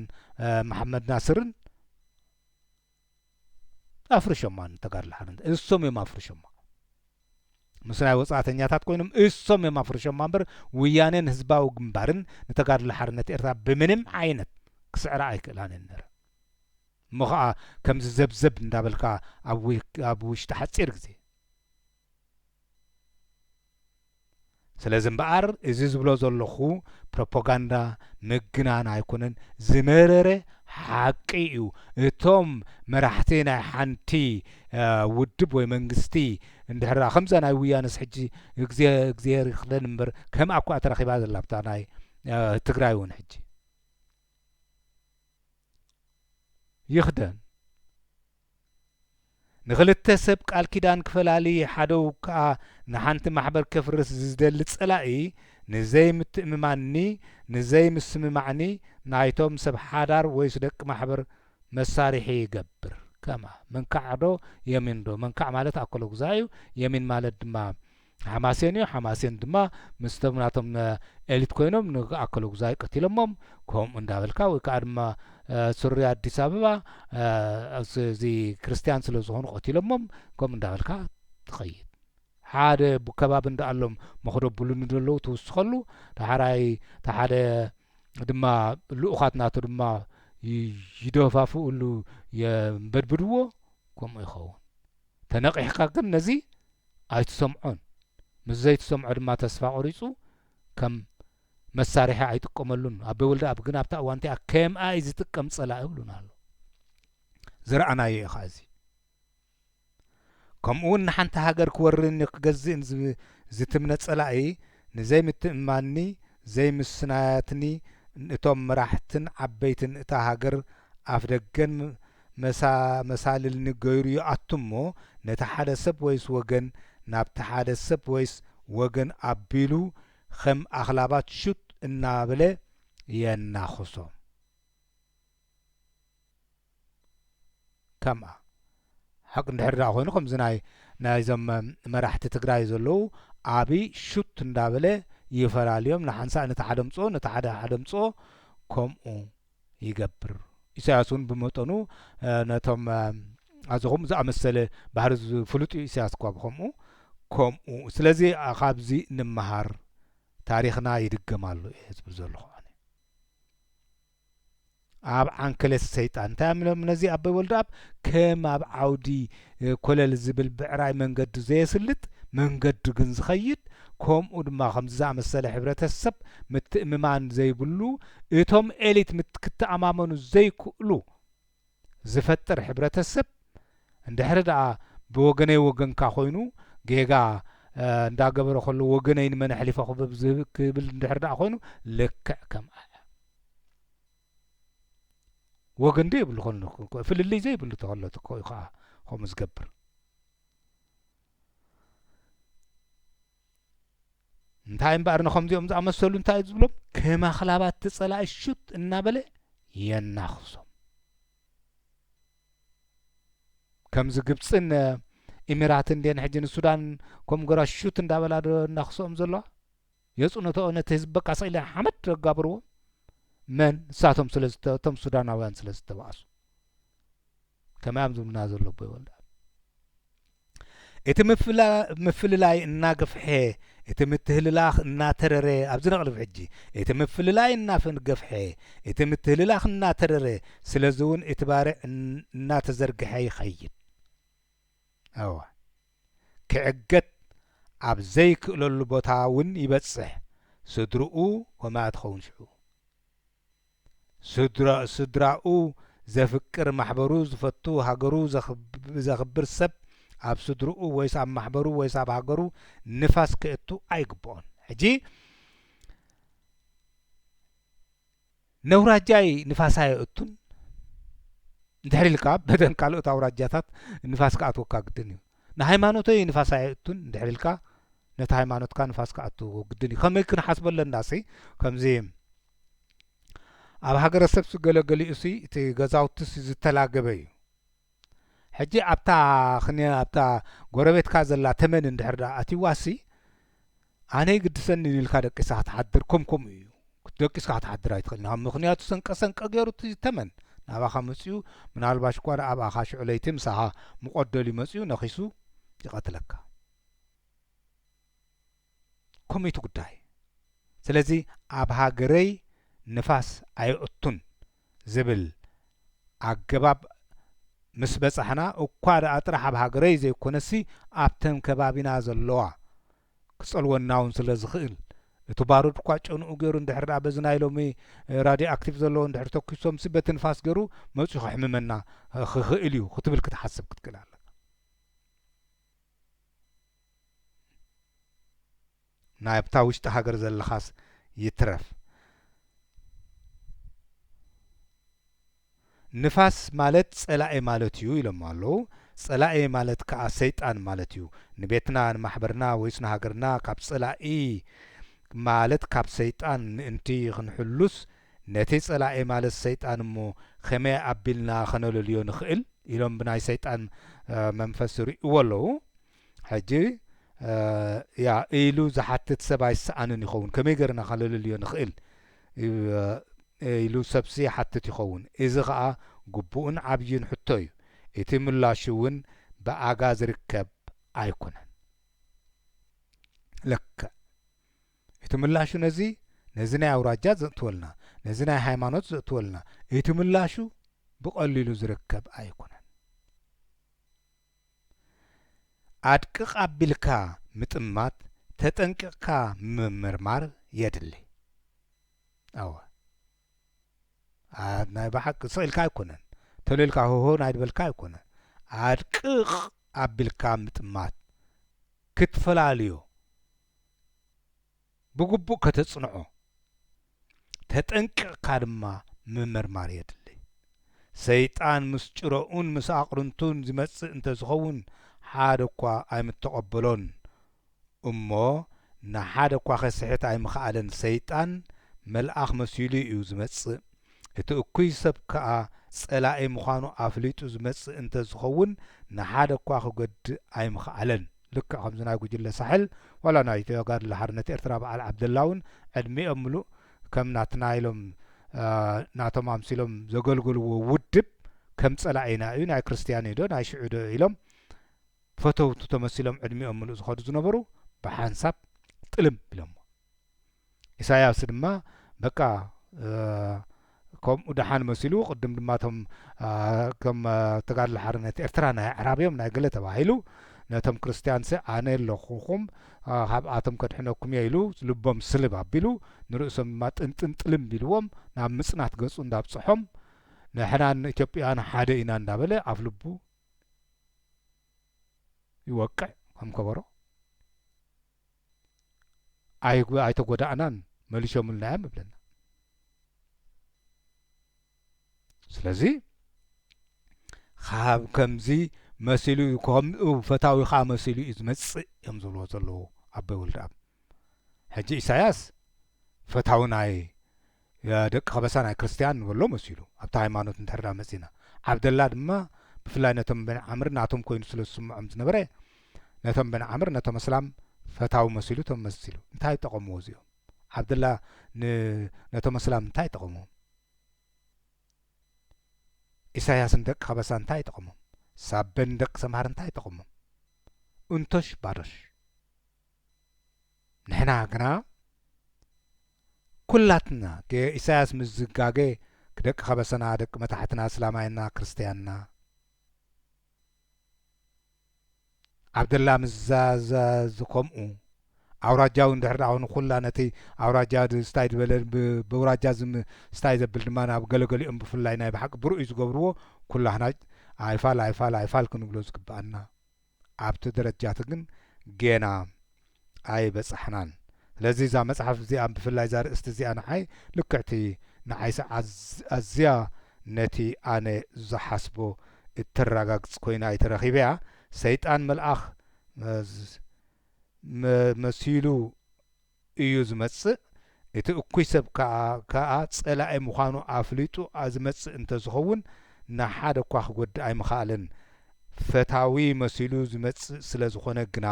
መሓመድ ናስርን ኣፍርሾማ ንተጋድሎ ሓርነት እሶም እዮም ኣፍርሾማ ምስ ናይ ወጻእተኛታት ኮይኖም እሶም እዮም ኣፍርሾማ እምበር ውያኔን ህዝባዊ ግንባርን ንተጋድሎ ሓርነት ኤርትራ ብምንም ዓይነት ክስዕራ ኣይክእላን እየን ነረ እሞ ኸኣ ከምዚ ዘብዘብ እንዳበልካ ኣብ ውሽጢ ሓጺር ግዜ ስለዚ እምበኣር እዚ ዝብሎ ዘለኹ ፕሮፖጋንዳ ምግናን ኣይኮነን ዝመረረ ሓቂ እዩ እቶም መራሕቲ ናይ ሓንቲ ውድብ ወይ መንግስቲ እንድሕር ከምዛ ናይ ውያነስ ሕጂ እግዜ እግዚኣብሔር ይኽለን እምበር ከም ኣኳ ተረኺባ ዘላ ብታ ናይ ትግራይ እውን ሕጂ ይኽደን ንኽልተ ሰብ ቃል ኪዳን ክፈላሊ ሓደው ክኣ ንሓንቲ ማሕበር ከፍርስ ዝደሊ ጸላኢ ንዘይ ምትእምማንኒ ንዘይ ምስምማዕኒ ናይቶም ሰብ ሓዳር ወይስ ደቂ ማሕበር መሳሪሒ ይገብር ከማ መንካዕዶ የሚንዶ መንካዕ ማለት ኣኮሎጉዛይ እዩ የሚን ማለት ድማ ሓማሴን እዩ ሓማሴን ድማ ምስ ቶም ናቶም ኤሊት ኮይኖም ን ኣከለጉዛይ ቀቲሎሞም ከምኡ እንዳበልካ ወይ ከኣ ድማ ሱሪ ኣዲስ ኣበባ እዚ ክርስትያን ስለ ዝኾኑ ቀቲሎሞም ከምኡ እንዳበልካ ትኸይድ ሓደ ከባቢ እንዳኣሎም መኽዶ ብሉኒ ደለዉ ትውስኸሉ ዳሕራይ እቲ ሓደ ድማ ልኡኻት ናቱ ድማ ይደፋፍእሉ የንበድብድዎ ከምኡ ይኸውን ተነቒሕካ ግን ነዚ ኣይትሰምዖን፣ ምስ ዘይትሰምዖ ድማ ተስፋ ቆሪጹ ከም መሳርሒ ኣይጥቀመሉን። ኣቤ ወልደኣብ ግን ኣብታ እዋን እቲኣ ከምኣ እዩ ዝጥቀም ጸላኢ ይብሉና ኣሎ። ዝረኣናዮ እዩ ከኣ እዚ። ከምኡውን ንሓንቲ ሃገር ክወርርኒ ክገዝእን ዝትምነ ጸላኢ ንዘይምትእምማንኒ ዘይምስናያትኒ እቶም መራሕትን ዓበይትን እታ ሃገር ኣፍደገን መሳልልኒ ገይሩ ይኣቱ እሞ ነቲ ሓደ ሰብ ወይስ ወገን ናብቲ ሓደ ሰብ ወይስ ወገን ኣቢሉ ከም ኣኽላባት ሹጥ እናበለ የናኽሶም። ከምኣ ሓቂ እንድሕር ድኣ ኮይኑ ከምዚ ናይ ናይዞም መራሕቲ ትግራይ ዘለዉ ኣብይ ሹት እንዳበለ ይፈላልዮም ንሓንሳእ ነቲ ሓደ ኣምጽኦ ነቲ ሓደ ሓደ ኣምጽኦ ከምኡ ይገብር ኢሳያስ እውን ብመጠኑ ነቶም ኣዚ ከምኡ ዝኣመሰለ ባህሪ ዝፍሉጥ እዩ ኢሳያስ እኳ ብከምኡ ከምኡ ስለዚ ካብዚ ንመሃር ታሪክና ይድገም ኣሎ እየ ዝብል ዘለኹ ኣነ ኣብ ዓንኬሌት ሰይጣን እንታይ እም ኢሎም ነዚ ኣቦይ ወልደኣብ ከም ኣብ ዓውዲ ኮለል ዝብል ብዕራይ መንገዱ ዘየስልጥ መንገዱ ግን ዝኸይድ ከምኡ ድማ ከምዚ ዝኣመሰለ ሕብረተሰብ ምትእምማን ዘይብሉ እቶም ኤሊት ክትኣማመኑ ዘይክእሉ ዝፈጥር ሕብረተሰብ እንድሕሪ ደኣ ብወገነይ ወገንካ ኮይኑ ጌጋ እንዳገበረ ከሎ ወገነይ ንመን ኣሕሊፈ ክበብ ዝህብ ክብል እንድሕሪ ደኣ ኮይኑ ልክዕ ከም ኣያ ወገን ዶ የብሉ ኮን ፍልልይ ዘይብሉ ተኸሎ ኮ እዩ ከዓ ከምኡ ዝገብር እንታይ እምበኣር ንኸምዚኦም ዝኣመሰሉ እንታይ ዝብሎም ከም ኣኽላባት እቲ ጸላኢ ሹት እናበለ የናኽሶም ከምዚ ግብፅን ኢሚራትን ድን ሕጂ ንሱዳን ከም ጎራ ሹት እንዳበላ ዶ እናኽስኦም ዘለዋ የፅነተኦ ነቲ ህዝቢ በቃ ስኢለ ሓመድ ዘጋብርዎ መን ንሳቶም ስለቶም ሱዳናውያን ስለ ዝተባእሱ ከመይ ኣብ ዝምድና ዘሎ ኣቦ ይወልዳ። እቲ ምፍልላይ እናገፍሐ እቲ ምትህልላኽ እናተረረ ኣብዚ ነቕልብ ሕጂ እቲ ምፍልላይ እናገፍሐ እቲ ምትህልላኽ እናተረረ ስለዚ እውን እቲ ባርዕ እናተዘርግሐ ይኸይድ ኣዋ ክዕገት ኣብ ዘይክእለሉ ቦታ እውን ይበፅሕ ስድርኡ ኮማያ ትኸውን ሽዑ ስድራኡ ስድራኡ ዘፍቅር ማሕበሩ ዝፈቱ ሃገሩ ዘኽብር ሰብ ኣብ ስድርኡ ወይስ ኣብ ማሕበሩ ወይስ ኣብ ሃገሩ ንፋስ ከእቱ ኣይግብኦን ሕጂ ነውራጃይ ንፋስ ኣየእቱን እንድሕሪ ኢልካ በደን ካልኦት ኣውራጃታት ንፋስ ክኣትወካ ግድን እዩ ንሃይማኖተይ ንፋስ ኣየእቱን እንድሕሪ ኢልካ ነቲ ሃይማኖትካ ንፋስ ክኣትዎ ግድን እዩ ከመይ ክንሓስበለና ሲ ከምዚ ኣብ ሃገረሰብ ስገለገሊ እሱይ እቲ ገዛውቲ እሱይ ዝተላገበ እዩ ሕጂ ኣብታ ክኒ ኣብታ ጎረቤትካ ዘላ ተመን እንድሕር ደኣ ኣትይዋ እሱይ ኣነ ይግድሰኒ ኢልካ ደቂስካ ክትሓድር ከም ከምኡ እዩ ደቂስካ ክትሓድር ኣይትኽእልን ካብ ምኽንያቱ ሰንቀ ሰንቀ ገይሩ እቲ ተመን ናባኻ መፅኡ ምናልባሽ እኳ ደኣ ኣብኣኻ ሽዑ ለይቲ ምሳኻ ሙቐት ደልዩ መፅኡ ነኺሱ ይቐትለካ ኮሚቲ ጉዳይ ስለዚ ኣብ ሃገረይ ንፋስ ኣይኣቱን ዝብል ኣገባብ ምስ በጻሕና እኳ ድኣ ጥራሕ ኣብ ሃገረይ ዘይኮነሲ ኣብተን ከባቢና ዘለዋ ክጸልወናውን ስለ ዝኽእል እቲ ባሩድ እኳ ጨንኡ ገይሩ እንድሕር ድኣ በዚ ናይ ሎሚ ራድዮ ኣክቲቭ ዘለዎ እንድሕር ተኩሶምሲ በቲ ንፋስ ገይሩ መጽዩ ከሕምመና ክኽእል እዩ ክትብል ክትሓስብ ክትክእል ኣለካ። ናይ ኣብታ ውሽጢ ሃገር ዘለኻስ ይትረፍ ንፋስ ማለት ጸላኢ ማለት እዩ ኢሎሞ ኣለው ጸላኢ ማለት ከኣ ሰይጣን ማለት እዩ ንቤትና ንማሕበርና ወይስ ንሃገርና ካብ ጸላኢ ማለት ካብ ሰይጣን ምእንቲ ክንሕሉስ ነቲ ጸላኢ ማለት ሰይጣን እሞ ከመይ ኣቢልና ከነለልዮ ንኽእል ኢሎም ብናይ ሰይጣን መንፈስ ይርእይዎ ኣለው ሕጂ እያ ኢሉ ዝሓትት ሰብ ኣይሰኣንን ይኸውን ከመይ ገርና ከለልልዮ ንኽእል ኢሉ ሰብሲ ይሓትት ይኸውን እዚ ኸኣ ግቡእን ዓብይን ሕቶ እዩ እቲ ምላሹ እውን ብኣጋ ዝርከብ ኣይኮነን ለክዕ እቲ ምላሹ ነዚ ነዚ ናይ ኣውራጃ ዘእትወልና ነዚ ናይ ሃይማኖት ዘእትወልና እቲ ምላሹ ብቐሊሉ ዝርከብ ኣይኮነን ኣድቅቕ ኣቢልካ ምጥማት ተጠንቂቕካ ምምርማር የድሊ። ኣወ ናይ ብሓቂ ስቕ ኢልካ ኣይኮነን ተሎ ኢልካ ሆሆ ናይ ድበልካ ኣይኮነ ኣድቅቕ ኣቢልካ ምጥማት ክትፈላልዮ ብግቡእ ከተጽንዖ፣ ተጠንቂቕካ ድማ ምምርማር የድሊ። ሰይጣን ምስ ጭረኡን ምስ ኣቕርንቱን ዚመጽእ እንተ ዚኸውን፣ ሓደ እኳ ኣይምተቐበሎን። እሞ ንሓደ እኳ ኼስሕት ኣይምኸኣለን። ሰይጣን መልኣኽ መሲሉ እዩ ዚመጽእ፣ እቲ እኩይ ሰብ ከኣ ጸላኢ ምዃኑ ኣፍሊጡ ዚመጽእ እንተ ዚኸውን፣ ንሓደ እኳ ኺጐድእ ኣይምኸኣለን። ልክዕ ከምዚ ናይ ጉጅለ ሳሕል ዋላ ናይ ተጋድሎ ሓርነት ኤርትራ በዓል ዓብደላ ውን ዕድሚኦም ምሉእ ከም ናትና ኢሎም ናቶም ኣምሲሎም ዘገልገልዎ ውድብ ከም ጸላኢና እዩ ናይ ክርስትያን እዩዶ ናይ ሽዑዶ ኢሎም ፈተውቱ ተመሲሎም ዕድሚኦም ምሉእ ዝኸዱ ዝነበሩ ብሓንሳብ ጥልም ኢሎሞ። ኢሳያስ ድማ በቃ ከምኡ ደሓን መሲሉ ቅድም ድማ እቶም ከም ተጋድሎ ሓርነት ኤርትራ ናይ ኣዕራብዮም ናይ ገለ ተባሂሉ ነቶም ክርስትያንሲ ኣነ ኣለኹኹም ካብኣቶም ከድሕነኩም እየ ኢሉ ልቦም ስልብ ኣቢሉ ንርእሶም ድማ ጥንጥን ጥልም ቢልዎም ናብ ምጽናት ገጹ እንዳብጽሖም ንሕናን ኢትዮጵያውያን ሓደ ኢና እንዳበለ ኣፍ ልቡ ይወቅዕ ከም ከበሮ ኣይተጎዳእናን መሊሾምልናዮም እብለና ስለዚ ካብ ከምዚ መሲሉ እዩ ከምኡ ፈታዊ ከዓ መሲሉ እዩ ዝመፅእ እዮም ዝብልዎ ዘለዉ ኣቦይ ወልደኣብ ሕጂ ኢሳያስ ፈታዊ ናይ ደቂ ከበሳ ናይ ክርስትያን ንበሎ መሲሉ ኣብቲ ሃይማኖት እንድሕር ድኣ መጺእና። ዓብደላ ድማ ብፍላይ ነቶም በኒ ዓምር ናቶም ኮይኑ ስለ ዝስምዖም ዝነበረ ነቶም በኒ ዓምር ነቶም ኣስላም ፈታዊ መሲሉ ተመሲሉ። እንታይ ጠቐምዎ እዚኦም? ዓብደላ ን ነቶም ኣስላም እንታይ ጠቐምዎም? ኢሳያስ ንደቂ ከበሳ እንታይ ጠቐሞም? ሳበ ንደቂ ሰምሃር እንታይ ጠቐሞም? እንቶሽ ባዶሽ። ንሕና ግና ኩላትና ገ ኢሳያስ ምስ ዝጋገ ደቂ ከበሰና ደቂ መታሕትና ኣስላማይና ክርስትያንና ዓብደላ ምስ ዛዛዝ ከምኡ ኣውራጃዊ እንድሕር ደኣ ኹይኑ ኩላ ነቲ ኣውራጃ ድ ስታይ ድበለ ብ በውራጃ ዝም ስታይ ዘብል ድማ ናብ ገለ ገሊኦም ብፍላይ ናይ ብሓቂ ብርኡይ ዝገብርዎ ኩላህና ኣይፋል ኣይፋል ኣይፋል ክንብሎ ዝግብኣና ኣብቲ ደረጃቲ ግን ጌና ኣይበጻሕናን ስለዚ እዛ መጽሓፍ እዚኣ ብፍላይ እዛ ርእስቲ እዚኣ ንዓይ ልክዕቲ ንዓይሲ ኣዝያ ነቲ ኣነ ዝሓስቦ እተራጋግጽ ኮይና እየ ተረኪበያ ሰይጣን መልኣኽ መሲሉ እዩ ዝመጽእ፣ እቲ እኩይ ሰብ ከኣ ከኣ ጸላኢ ምዃኑ ኣፍሊጡ ዝመጽእ እንተ ዝኸውን ንሓደ እኳ ክጐድእ ኣይምኸኣለን። ፈታዊ መሲሉ ዝመጽእ ስለ ዝዀነ ግና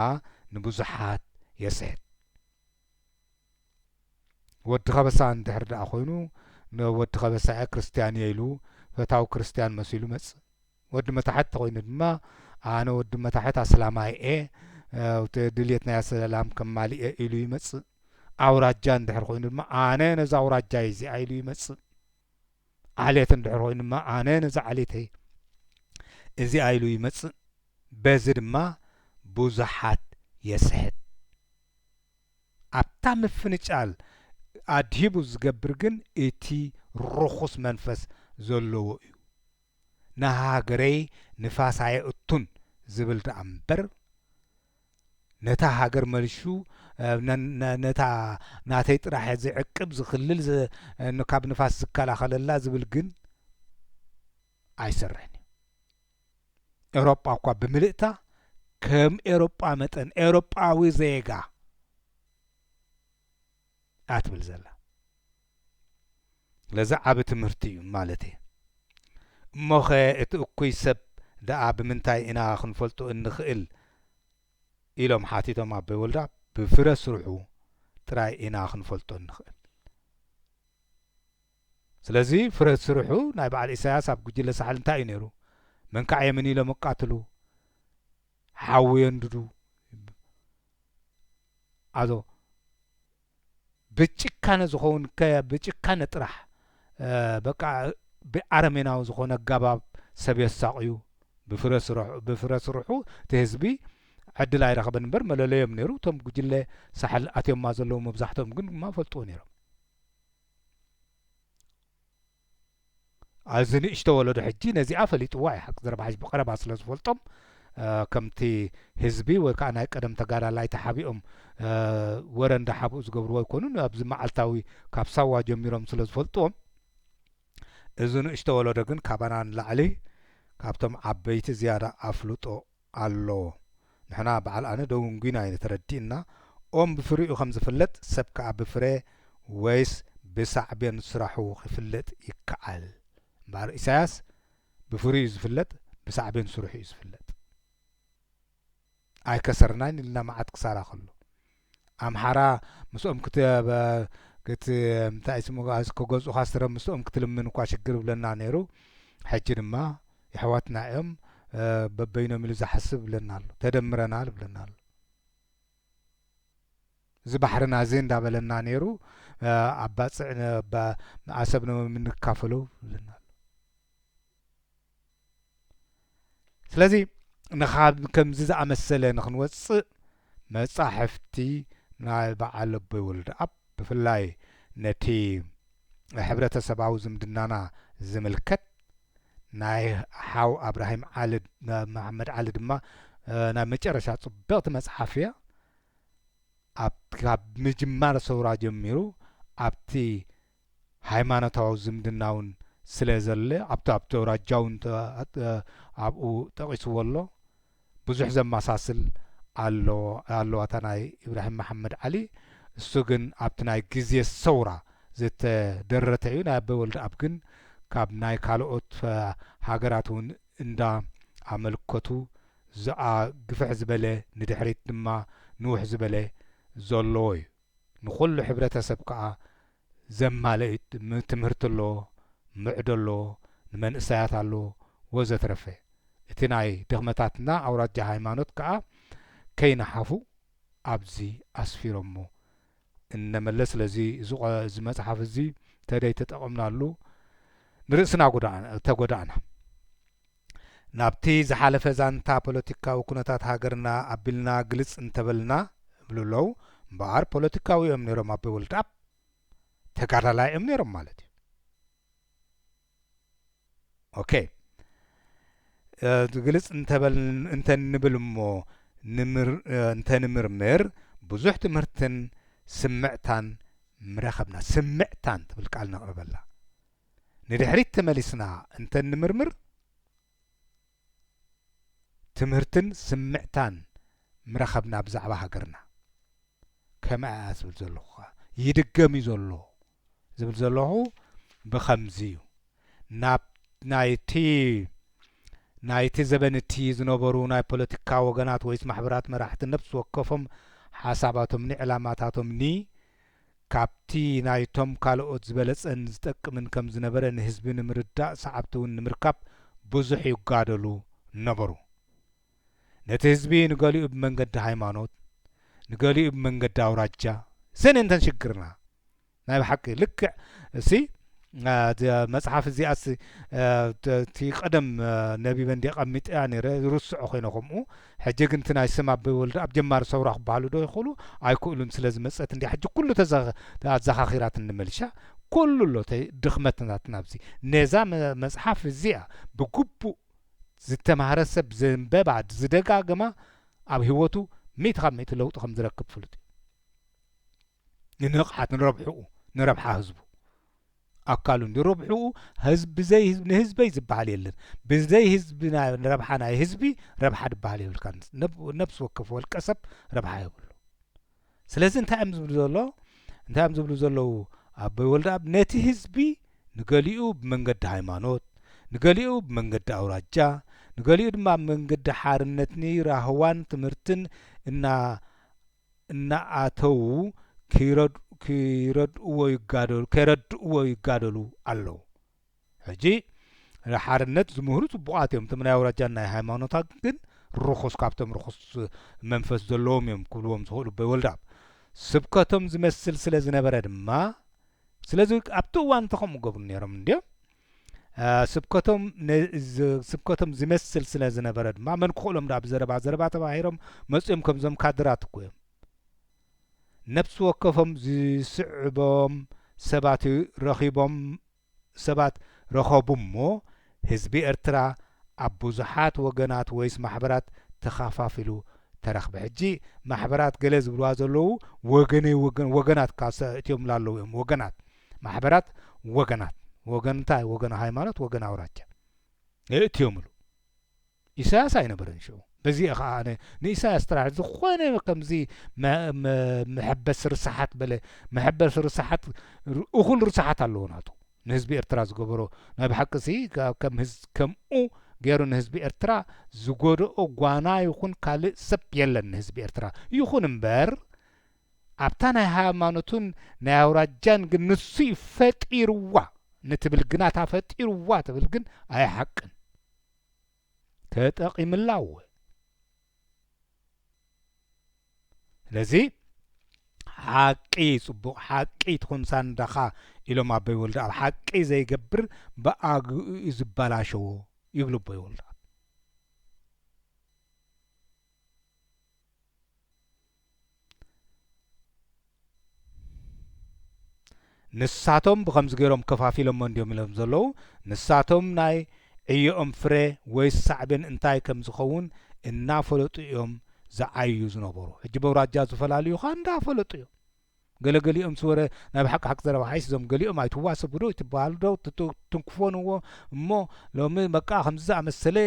ንብዙሓት የስሕት። ወዲ ከበሳ እንድሕር ደኣ ኰይኑ ንወዲ ከበሳ'የ ክርስትያን'የ ኢሉ ፈታዊ ክርስትያን መሲሉ መጽእ። ወዲ መታሕት ተኾይኑ ድማ ኣነ ወዲ መታሕት ኣስላማይ እየ ኣብቲ ድልየት ናይ ኣሰላም ከማልእ እየ ኢሉ ይመጽእ። ኣውራጃ እንድሕር ኮይኑ ድማ ኣነ ነዛ ኣውራጃይ እዚኣ ኢሉ ይመጽእ። ዓሌት እንድሕር ኮይኑ ድማ ኣነ ነዛ ዓሌተይ እዚኣ ኢሉ ይመጽእ። በዚ ድማ ብዙሓት የስሕት። ኣብታ ምፍንጫል ኣድሂቡ ዝገብር ግን እቲ ርኹስ መንፈስ ዘለዎ እዩ። ንሃገረይ ንፋስ ኣየእቱን ዝብል ደኣ እምበር ነታ ሃገር መልሹ ነታ ናተይ ጥራሕ ዝዕቅብ ዝኽልል ካብ ንፋስ ዝከላኸለላ ዝብል ግን ኣይሰርሕን እዩ። ኤውሮጳ እኳ ብምልእታ ከም ኤውሮጳ መጠን ኤውሮጳዊ ዜጋ እያ ትብል ዘላ። ስለዚ ዓቢ ትምህርቲ እዩ ማለት እየ። እሞኸ እቲ እኩይ ሰብ ደኣ ብምንታይ ኢና ክንፈልጦ እንኽእል ኢሎም ሓቲቶም ኣቦይ ወልደኣብ። ብፍረ ስርሑ ጥራይ ኢና ክንፈልጦ እንኽእል። ስለዚ ፍረ ስርሑ ናይ በዓል ኢሳያስ ኣብ ጉጅለ ሳሕል እንታይ እዩ ነይሩ? መንካዕ የምን ኢሎም የቃትሉ፣ ሓዊ የንድዱ፣ ኣዞ፣ ብጭካነ ዝኸውን ከ ብጭካነ ጥራሕ በቃ ብኣረሜናዊ ዝኾነ ኣጋባብ ሰብ የሳቕዩ ብፍረ ስረሑ ብፍረ ስርሑ እቲ ህዝቢ ዕድል ኣይረኸበን እምበር መለለዮም ነይሩ እቶም ጉጅለ ሳሕል ኣትዮማ ዘለዉ መብዛሕትኦም ግን ድማ ፈልጥዎ ነይሮም ኣዚ ንእሽቶ ወለዶ ሕጂ ነዚኣ ፈሊጥዋ ዩ ሓቂ ዘረባ ሕጂ ብቀረባ ስለ ዝፈልጦም ከምቲ ህዝቢ ወይ ከኣ ናይ ቀደም ተጋዳላይ ተሓቢኦም ወረ እንዳ ሓብኡ ዝገብርዎ ኣይኮኑን ኣብዚ መዓልታዊ ካብ ሳዋ ጀሚሮም ስለ ዝፈልጥዎም እዚ ንእሽቶ ወለዶ ግን ካባና ንላዕሊ ካብቶም ዓበይቲ ዝያዳ ኣፍልጦ ኣሎ ንሕና በዓል ኣነ ዶ ዊንጉይና ኢነ ተረዲእና ኦም ብፍሪኡ ከም ዝፍለጥ ሰብ ከኣ ብፍረ ወይስ ብሳዕቤን ስራሑ ክፍለጥ ይከኣል እምበኣር ኢሳያስ ብፍሪኡ እዩ ዝፍለጥ ብሳዕቤን ስርሑ እዩ ዝፍለጥ ኣይከሰርናን ኢልና መዓት ክሳራ ከሎ ኣምሓራ ምስኦም ክትከገፁኻ ስረ ምስኦም ክትልምን እኳ ሽግር ይብለና ነይሩ ሕጂ ድማ የሕዋትና እዮም በበይኖም ኢሉ ዝሓስብ ይብለና ኣሎ ተደምረናል ይብለና ኣሎ እዚ ባሕርና እዚ እንዳበለና ነይሩ ኣብ ባፅዕ ኣሰብ ንምንካፈሎ ይብለና ኣሎ። ስለዚ ንኻብ ከምዚ ዝኣመሰለ ንኽንወጽእ መጻሕፍቲ ናይ በዓል ኣቦይ ወልደኣብ ብፍላይ ነቲ ሕብረተሰባዊ ዝምድናና ዝምልከት ናይ ሓው ኣብራሂም ዓሊ መሓመድ ዓሊ ድማ ናይ መጨረሻ ጽብቕቲ መጽሓፍ እያ ካብ ምጅማር ሰውራ ጀሚሩ ኣብቲ ሃይማኖታዊ ዝምድናውን ስለ ዘለ ኣብቲ ኣብቲ ኣውራጃውን ኣብኡ ጠቒስዎ ኣሎ ብዙሕ ዘማሳስል ኣሎ ኣለዋ እታ ናይ ኢብራሂም መሓመድ ዓሊ እሱ ግን ኣብቲ ናይ ግዜ ሰውራ ዝተደረተ እዩ ናይ ኣበይ ወልደኣብ ግን ካብ ናይ ካልኦት ሃገራት እውን እንዳ ኣመልከቱ ዝኣ ግፍሕ ዝበለ ንድሕሪት ድማ ንውሕ ዝበለ ዘለዎ እዩ። ንኹሉ ሕብረተሰብ ከኣ ዘማልእ እዩ። ትምህርቲ ኣሎ፣ ምዕዶ ኣሎ፣ ንመንእሰያት ኣሎ ወዘትረፈ። እቲ ናይ ድኽመታትና ኣውራጃ ሃይማኖት ከኣ ከይነሓፉ ኣብዚ ኣስፊሮሞ። እነ መለስ ስለዚ እዚ መጽሓፍ እዚ ተደይተጠቐምናሉ ንርእስና ተጎዳእና። ናብቲ ዝሓለፈ ዛንታ ፖለቲካዊ ኩነታት ሃገርና ኣቢልና ግልጽ እንተበልና ይብሉ ኣለዉ። እምበኣር ፖለቲካዊ እዮም ነይሮም ኣቦይ ወልደኣብ ተጋዳላይ እዮም ነይሮም ማለት እዩ። ኦኬ ግልጽ እንተንብል እሞ እንተንምርምር ብዙሕ ትምህርትን ስምዕታን ምረኸብና ስምዕታን ትብል ቃል ነቕርበላ ንድሕሪት ተመሊስና እንተ እንምርምር፣ ትምህርትን ስምዕታን ምረኸብና ብዛዕባ ሃገርና። ከም'ኣ እያ ዝብል ዘለኹ ከኣ። ይድገም እዩ ዘሎ ዝብል ዘለኹ ብኸምዚ እዩ። ናብ ናይ'ቲ ናይ'ቲ ዘበን እቲ ዝነበሩ ናይ ፖለቲካ ወገናት ወይስ ማሕበራት መራሕቲ ነፍሲ ወከፎም ሓሳባቶምኒ ዕላማታቶምኒ ካብቲ ናይቶም ካልኦት ዝበለጸን ዝጠቅምን ከም ዝነበረ ንህዝቢ ንምርዳእ ሰዓብቲውን ንምርካብ ብዙሕ ይጋደሉ ነበሩ። ነቲ ህዝቢ ንገሊኡ ብመንገዲ ሃይማኖት ንገሊኡ ብመንገዲ ኣውራጃ እሰን እየን እተን ሽግርና ናይ ብሓቂ ልክዕ እሲ መጽሓፍ እዚኣስ እቲ ቀደም ነቢበ እንዲ ቀሚጠያ ነረ ርስዖ ኮይነ ከምኡ ሕጂ ግን እቲ ናይ ስም ኣበይ ወልደ ኣብ ጀማሪ ሰውራ ክበሃሉ ዶ ይኽእሉ ኣይክእሉን ስለ ዝመጸት እንዲ ሕጂ ኩሉ ኣዘኻኺራት እንመልሻ ኩሉ ኣሎ ድኽመት ናትና ኣብዚ ነዛ መጽሓፍ እዚኣ ብግቡእ ዝተማህረ ሰብ ዘንበባ ዝደጋግማ ኣብ ህይወቱ ሚእቲ ካብ ሚእቲ ለውጢ ከም ዝረክብ ፍሉጥ እዩ ንንቕሓት ንረብሕኡ ንረብሓ ህዝቡ ኣካሉ ንረብሕኡ ህዝብ ብዘይ ህዝብ ንህዝበይ ዝበሃል የለን ብዘይ ህዝቢ ረብሓ ናይ ህዝቢ ረብሓ ድበሃል የብልካ ነብሲ ወከፍ ወልቀ ሰብ ረብሓ የብሉ ስለዚ እንታይ እዮም ዝብሉ ዘሎ እንታይ እዮም ዝብሉ ዘለዉ ኣቦይ ወልደኣብ ነቲ ህዝቢ ንገሊኡ ብመንገዲ ሃይማኖት ንገሊኡ ብመንገዲ ኣውራጃ ንገሊኡ ድማ መንገዲ ሓርነትኒ ራህዋን ትምህርትን እና እናኣተዉ ከይረድእዎ ይጋደሉ ኣለዉ ሕጂ ሓርነት ዝምህሩ ጽቡቃት እዮም እቶም ናይ ኣውራጃን ናይ ሃይማኖታትን ግን ርኹስ ካብቶም ርኹስ መንፈስ ዘለዎም እዮም ክብልዎም ዝኽእሉ ኣቦይ ወልዳብ ስብከቶም ዝመስል ስለ ዝነበረ ድማ ስለዚ ኣብቲ እዋን እቲ ከምኡ ገብሩ ኔሮም እንድዮም ስብከቶም ስብከቶም ዝመስል ስለ ዝነበረ ድማ መን ክኽእሎም ዳ ብዘረባ ዘረባ ተባሂሮም መፅኦም ከምዞም ካድራት እኮ እዮም ነብሲ ወከፎም ዝስዕቦም ሰባት ረኺቦም ሰባት ረኸቡ እሞ ህዝቢ ኤርትራ ኣብ ብዙሓት ወገናት ወይስ ማሕበራት ተኻፋፊሉ ተረኽበ ሕጂ ማሕበራት ገለ ዝብልዋ ዘለዉ ወገነይ ወገናት ካብ እትዮም ላለዉ እዮም ወገናት ማሕበራት ወገናት ወገን እንታይ ወገን ሃይማኖት ወገን ኣውራጃ የእትዮምሉ ኢሳያስ ኣይነበረን ሽዑ በዚ እየ ከዓ ኣነ ንኢሳያስ ጥራሕ ዝኾነ ከምዚ መሐበሲ ርሳሓት በለ መሐበሲ ርሳሓት እኹል ርሳሓት ኣለዎ ናቱ ንህዝቢ ኤርትራ ዝገበሮ ናይ ብሓቂ ሲ ከም ከምኡ ገይሩ ንህዝቢ ኤርትራ ዝጎደኦ ጓና ይኹን ካልእ ሰብ የለን ንህዝቢ ኤርትራ ይኹን እምበር ኣብታ ናይ ሃይማኖትን ናይ ኣውራጃን ግን ንሱ'ዩ ፈጢርዋ ንትብል ግና እታ ፈጢርዋ ትብል ግን ኣይሓቅን ተጠቒምላ እወ ስለዚ ሓቂ ጽቡቕ ሓቂ ትኹን ሳንዳኻ ኢሎም ኣቦይ ወልደኣብ ሓቂ ዘይገብር ብኣግኡ'ዩ ዝበላሸዎ ይብሉ ኣቦይ ወልደኣብ ንሳቶም ብኸምዚ ገይሮም ከፋፊሎሞ እንድዮም ኢሎም ዘለዉ ንሳቶም ናይ ዕዮኦም ፍረ ወይስ ሳዕቤን እንታይ ከም ዝኸውን እናፈለጡ እዮም ዝዓዩ ዝነበሩ ሕጂ በውራጃ ዝፈላልዩኻ እንዳፈለጡ እዮም ገለ ገሊኦምስ ወረ ናይ ብሓቂ ሓቂ ዘረባ ሓይሲ ዞም ገሊኦም ኣይትዋሰቡዶ ኣይትበሃሉ ዶ ትትንክፎንዎ እሞ ሎሚ በቃ ከምዚ ዝኣመሰለ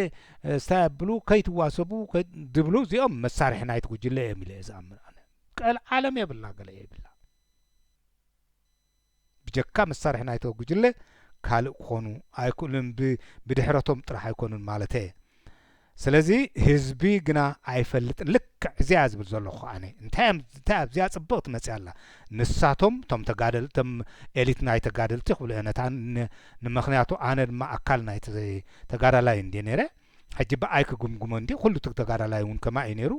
ስታይ ኣብሉ ከይትዋሰቡ ድብሉ እዚኦም መሳርሒ ናይቲ ጉጅለ እዮም ኢለ እየ ዝኣምን ኣነ ቀልዓለም የብልና ገለ የብላ ብጀካ መሳርሒ ናይቶ ጉጅለ ካልእ ክኾኑ ኣይክእሉን ብ ብድሕረቶም ጥራሕ ኣይኮኑን ማለተየ ስለዚ ህዝቢ ግና ኣይፈልጥን ልክዕ እዚኣ ዝብል ዘለኹ ኣነ እንታይ እም እንታይ ኣብዚኣ ጽብቕቲ መጽያ ኣላ ንሳቶም ቶም ተጋደል ቶም ኤሊት ናይ ተጋደልቲ ክብልኦ ነታ ን ንምኽንያቱ ኣነ ድማ ኣካል ናይቲ ተጋዳላይ እንድየ ነይረ ሕጂ ብኣይ ክግምግሞ እንድየ ኩሉ ትግ ተጋዳላይ እውን ከማይ እዩ ነይሩ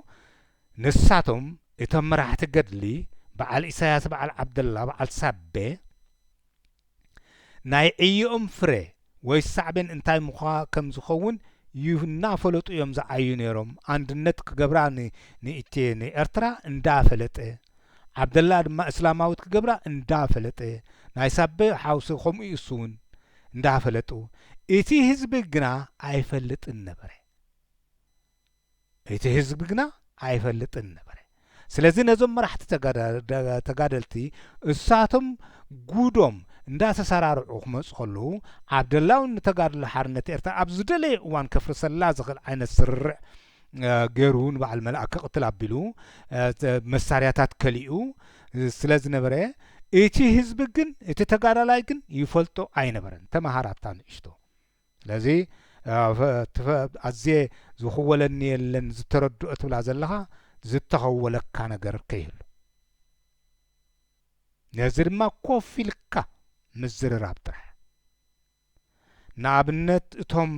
ንሳቶም እቶም መራሕቲ ገድሊ በዓል ኢሳያስ በዓል ዓብደላ በዓል ሳቤ ናይ ዕዮኦም ፍረ ወይ ሳዕቤን እንታይ ምዃ ከም ዝኸውን ይናፈለጡ እዮም ዝዓዩ ነይሮም ኣንድነት ክገብራ ን ንኢትዬ ን ኤርትራ እንዳ ፈለጠ ዓብደላ ድማ እስላማዊት ክገብራ እንዳ ፈለጠ ናይ ሳቤ ሓውሲ ከምኡ እሱውን እንዳ ፈለጡ እቲ ህዝቢ ግና ኣይፈልጥን ነበረ እቲ ህዝቢ ግና ኣይፈልጥን ነበረ። ስለዚ ነዞም መራሕቲ ተጋደልቲ እሳቶም ጉዶም እንዳተሰራርዑ ክመጹ ከለዉ ዓብደላውን ንተጋድሎ ሓርነት ኤርትራ ኣብ ዝደለዮ እዋን ከፍርሰላ ዝኽእል ዓይነት ስርርዕ ገይሩ ንበዓል መልኣክ ክቕትል ኣቢሉ መሳርያታት ከሊኡ ስለ ዝነበረ እቲ ህዝቢ ግን እቲ ተጋዳላይ ግን ይፈልጦ ኣይነበረን። ተመሃር ኣብታ ንእሽቶ። ስለዚ ኣዝየ ዝኽወለኒ የለን ዝተረድኦ ትብላ ዘለኻ ዝተኸወለካ ነገር ከይህሉ ነዚ ድማ ኮፍ ኢልካ ምዝርራብ ጥራሕ ንኣብነት እቶም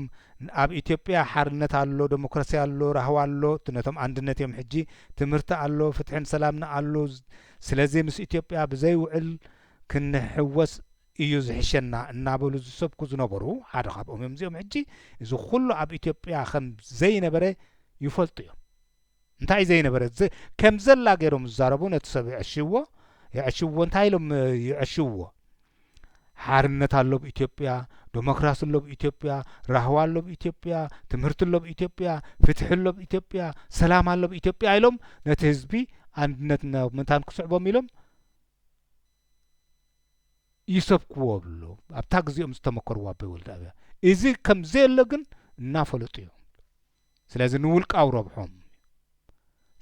ኣብ ኢትዮጵያ ሓርነት ኣሎ ዴሞክራሲ ኣሎ ራህዋ ኣሎ ነቶም ኣንድነት እዮም ሕጂ ትምህርቲ ኣሎ ፍትሕን ሰላምን ኣሎ ስለዚ ምስ ኢትዮጵያ ብዘይውዕል ክንሕወስ እዩ ዝሕሸና እናበሉ ዝሰብኩ ዝነበሩ ሓደ ካብኦም እዮም እዚኦም ሕጂ እዚ ኩሉ ኣብ ኢትዮጵያ ከም ዘይነበረ ይፈልጡ እዮም እንታይ እዩ ዘይነበረ ከም ዘላ ገይሮም ዝዛረቡ ነቲ ሰብ የዕሽዎ የዕሽዎ እንታይ ኢሎም የዕሽዎ ሓርነት ኣሎ ብ ኢትዮጵያ ዶሞክራሲ ኣሎ ብ ኢትዮጵያ ራህዋ ኣሎ ብ ኢትዮጵያ ትምህርቲ ኣሎ ብ ኢትዮጵያ ፍትሒ ኣሎ ብ ኢትዮጵያ ሰላም ኣሎ ብ ኢትዮጵያ ኢሎም ነቲ ህዝቢ ኣንድነት ምእንታን ክስዕቦም ኢሎም ይሰብክዎ ብሎ ኣብታ ግዜኦም ዝተመከርዎ ኣቦይ ወልደኣብያ እዚ ከም ዘየሎ ግን እናፈለጡ እዮም ስለዚ ንውልቃዊ ረብሖም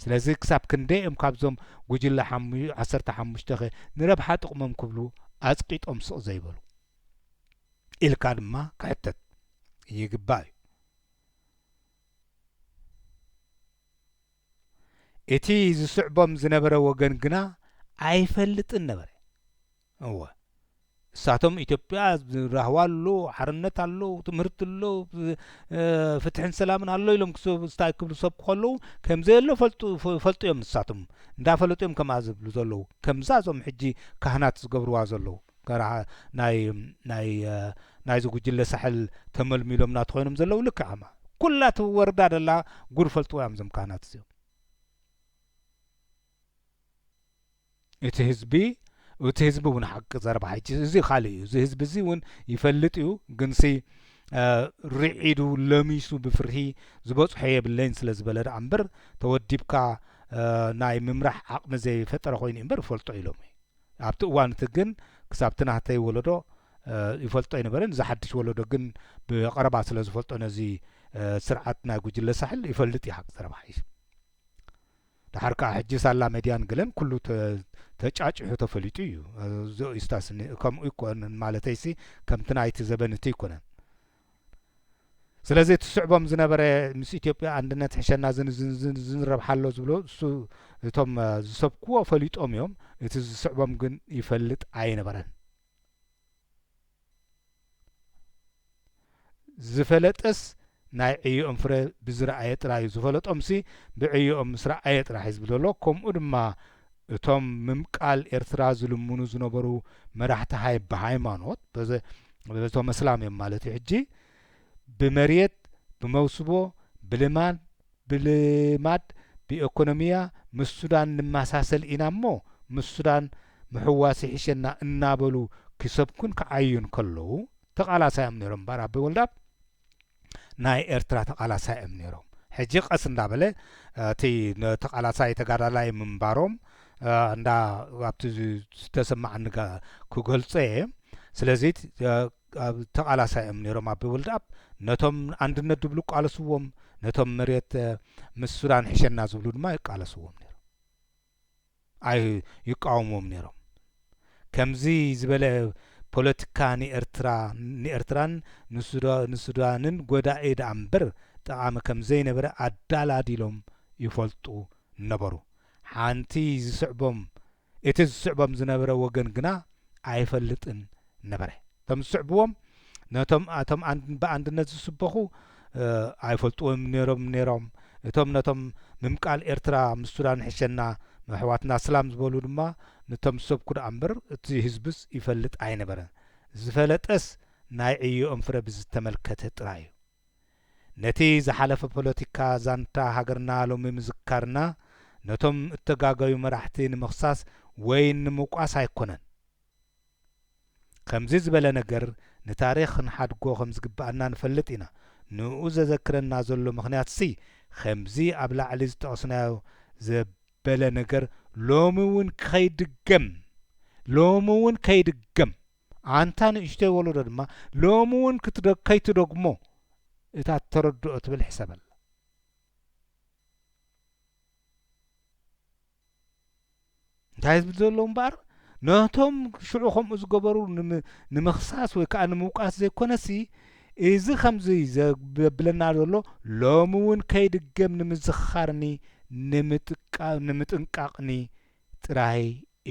ስለዚ ክሳብ ክንደይ እዮም ካብዞም ጉጅለ ዓሰርተ ሓሙሽተ ኸ ንረብሓ ጥቕሞም ክብሉ ኣፅቂጦም ስቕ ዘይበሉ ኢልካ ድማ ክሕተት ይግባእ እዩ እቲ ዚስዕቦም ዝነበረ ወገን ግና ኣይፈልጥን ነበረ። እወ፣ እሳቶም ኢትዮጵያ ራህዋ ኣሎ፣ ሓርነት ኣሎ፣ ትምህርቲ ኣሎ፣ ፍትሕን ሰላምን ኣሎ ኢሎም ስታይ ክብሉ ዝሰብኩ ከለዉ ከም ዘየሎ ፈልጡ እዮም። ንሳቶም እንዳፈለጡ እዮም ከምኣ ዝብሉ ዘለዉ፣ ከምዛ እዞም ሕጂ ካህናት ዝገብርዋ ዘለዉ። ተራ ናይ ናይ ናይዚ ጉጅለ ሳሕል ተመልሚሎም ናቱ ኮይኖም ዘለው ልክዕ ከማ ኩላ ትወርዳ ደላ ጉድ ፈልጥዋ እዮም ዞም ካህናት እዚኦም እቲ ህዝቢ እቲ ህዝቢ እውን ሓቂ ዘረባ ሕጂ እዚ ካልእ እዩ እዚ ህዝቢ እዚ እውን ይፈልጥ እዩ ግንሲ ርዒዱ ለሚሱ ብፍርሂ ዝበፅሖ የብለይን ስለ ዝበለ ደኣ እምበር ተወዲብካ ናይ ምምራሕ ዓቕሚ ዘይፈጠረ ኮይኑ እምበር ይፈልጦ ኢሎም እዩ ኣብቲ እዋን እቲ ግን ክሳብ እቲ ናህተይ ወለዶ ይፈልጦ ኣይነበረን። እዚ ሓድሽ ወለዶ ግን ብቐረባ ስለ ዝፈልጦ ነዚ ስርዓት ናይ ጉጅለ ሳሕል ይፈልጥ እዩ ሓቂ ዘረባ ሓይሽ። ደሓር ከኣ ሕጂ ሳላ መድያን ገለን ኩሉ ተጫጭሑ ተፈሊጡ እዩ። እዚኦ እዩስታስኒ ከምኡ ኣይኮነን ማለተይሲ ከምቲ ናይቲ ዘበን እቲ ኣይኮነን። ስለዚ እቲ ዝስዕቦም ዝነበረ ምስ ኢትዮጵያ ኣንድነት ሕሸና ዝንረብሓ ኣሎ ዝብሎ እሱ እቶም ዝሰብክዎ ፈሊጦም እዮም እቲ ዝስዕቦም ግን ይፈልጥ ኣይነበረን ዝፈለጠስ ናይ ዕዮኦም ፍረ ብዝረኣየ ጥራዩ ዝፈለጦምሲ ብዕዮኦም ምስ ረኣየ ጥራሕ እዩ ዝብሎ ዘሎ ከምኡ ድማ እቶም ምምቃል ኤርትራ ዝልምኑ ዝነበሩ መራሕቲ ሃይ ብሃይማኖት በዘ በቶም ኣስላም እዮም ማለት እዩ ሕጂ ብመርየት ብመውስቦ ብልማድ ብልማድ ብኤኮኖሚያ ምስ ሱዳን ንመሳሰል ኢና እሞ ምስ ሱዳን ምሕዋስ ይሕሸና እናበሉ ክሰብኩን ክዓዩን ከለዉ ተቓላሳዮም ነይሮም እምበኣር ኣቢ ወልደኣብ ናይ ኤርትራ ተቃላሳይ እዮም ነይሮም ሕጂ ቀስ እንዳበለ እቲ ተቃላሳይ ተጋዳላይ ምንባሮም እንዳ ኣብቲ ዝተሰማዓኒ ክገልጾ እየ ስለዚ ተቃላሳይ እዮም ነይሮም ኣቢ ወልድኣብ ነቶም ኣንድነት ድብሉ ቃለስዎም ነቶም መሬት ምስ ሱዳን ሕሸና ዝብሉ ድማ ይቃለስዎም ነይሮም ኣዩ ይቃወምዎም ነይሮም ከምዚ ዝበለ ፖለትካ ንኤርትራ ንኤርትራን ንሱዳንን ጎዳኢ ደኣምበር ጠቃሚ ከምዘይነበረ ኣዳላዲሎም ይፈልጡ ነበሩ ሓንቲ ዝስዕቦም እቲ ዝስዕቦም ዝነበረ ወገን ግና ኣይፈልጥን ነበረ። እቶም ዝስዕብዎም ነቶም ኣቶም ብኣንድነት ዝስበኹ ኣይፈልጥዎምን ነይሮም ነይሮም። እቶም ነቶም ምምቃል ኤርትራ ምስ ሱዳን ሕሸና ኣሕዋትና ስላም ዝበሉ ድማ ንቶም ዝሰብኩ ደኣ እምበር እቲ ህዝብስ ይፈልጥ ኣይነበረን። ዝፈለጠስ ናይ ዕዮኦም ፍረ ብዝተመልከተ ጥራይ እዩ። ነቲ ዝሓለፈ ፖለቲካ ዛንታ ሃገርና ሎሚ ምዝካርና ነቶም እተጋገዩ መራሕቲ ንምኽሳስ ወይ ንምውቃስ ኣይኮነን። ከምዚ ዝበለ ነገር ንታሪኽ ክንሓድጎ ከም ዝግብኣና ንፈልጥ ኢና። ንእኡ ዘዘክረና ዘሎ ምኽንያትሲ ከምዚ ኣብ ላዕሊ ዝጠቐስናዮ ዘበለ ነገር ሎሚ እውን ከይድገም ሎሚ እውን ከይድገም ኣንታ ንእሽቶይ ወለዶ ድማ ሎሚ እውን ከይትደግሞ እታ እተረድኦ ትብል ሕሰበላ። እንታይ ዝብል ዘሎ እምበኣር ነቶም ሽዑ ከምኡ ዝገበሩ ንምኽሳስ ወይ ከዓ ንምውቃስ ዘይኮነሲ እዚ ከምዚ ዘብለና ዘሎ ሎሚ እውን ከይድገም ንምዝኽኻርኒ ንምጥንቃቕኒ ጥራይ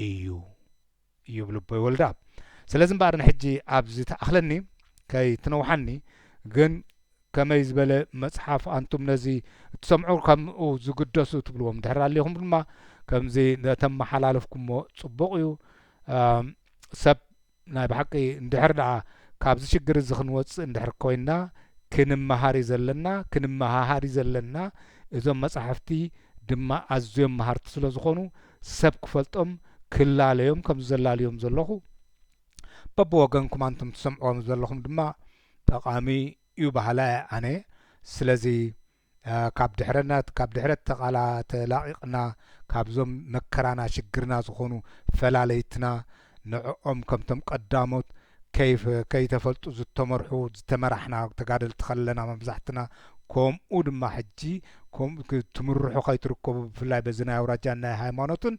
እዩ ይብሉ ኣቦይ ወልደኣብ። ስለዚ እምበኣር ንሕጂ ኣብዚ ትኣኽለኒ ከይትነውሓኒ ግን ከመይ ዝበለ መጽሓፍ ኣንቱም ነዚ እትሰምዑ ከምኡ ዝግደሱ ትብልዎም ድሕር ኣልኹም ድማ ከምዚ እተመሓላለፍኩሞ ጽቡቕ እዩ ሰብ ናይ ብሓቂ እንድሕር ደኣ ካብዚ ሽግር እዚ ክንወፅእ እንድሕር ኮይና ክንመሃር እዩ ዘለና ክንመሃሃር እዩ ዘለና እዞም መፃሕፍቲ ድማ ኣዝዮም መሃርቲ ስለ ዝኾኑ ሰብ ክፈልጦም ክላለዮም ከምዚ ዘላልዮም ዘለኹ በብወገንኩም ኣንቱም ትሰምዕዎ ዘለኹም ድማ ጠቓሚ ዩ በሃላይ እየ ኣነ ስለዚ ካብ ድሕረነት ካብ ድሕረት ተቓላ ተላቒቕና ካብዞም መከራና ሽግርና ዝኾኑ ፈላለይትና ንዕኦም ከምቶም ቀዳሞት ከይፍ ከይተፈልጡ ዝተመርሑ ዝተመራሕና ተጋደልቲ ከለና መብዛሕትና ከምኡ ድማ ሕጂ ከምኡ ትምርሑ ከይትርከቡ ብፍላይ በዚ ናይ ኣውራጃን ናይ ሃይማኖትን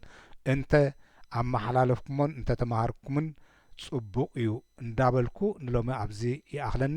እንተ ኣመሓላለፍኩሞን እንተ ተማሃርኩምን ጽቡቕ እዩ እንዳበልኩ ንሎሚ ኣብዚ ይኣኽለኒ።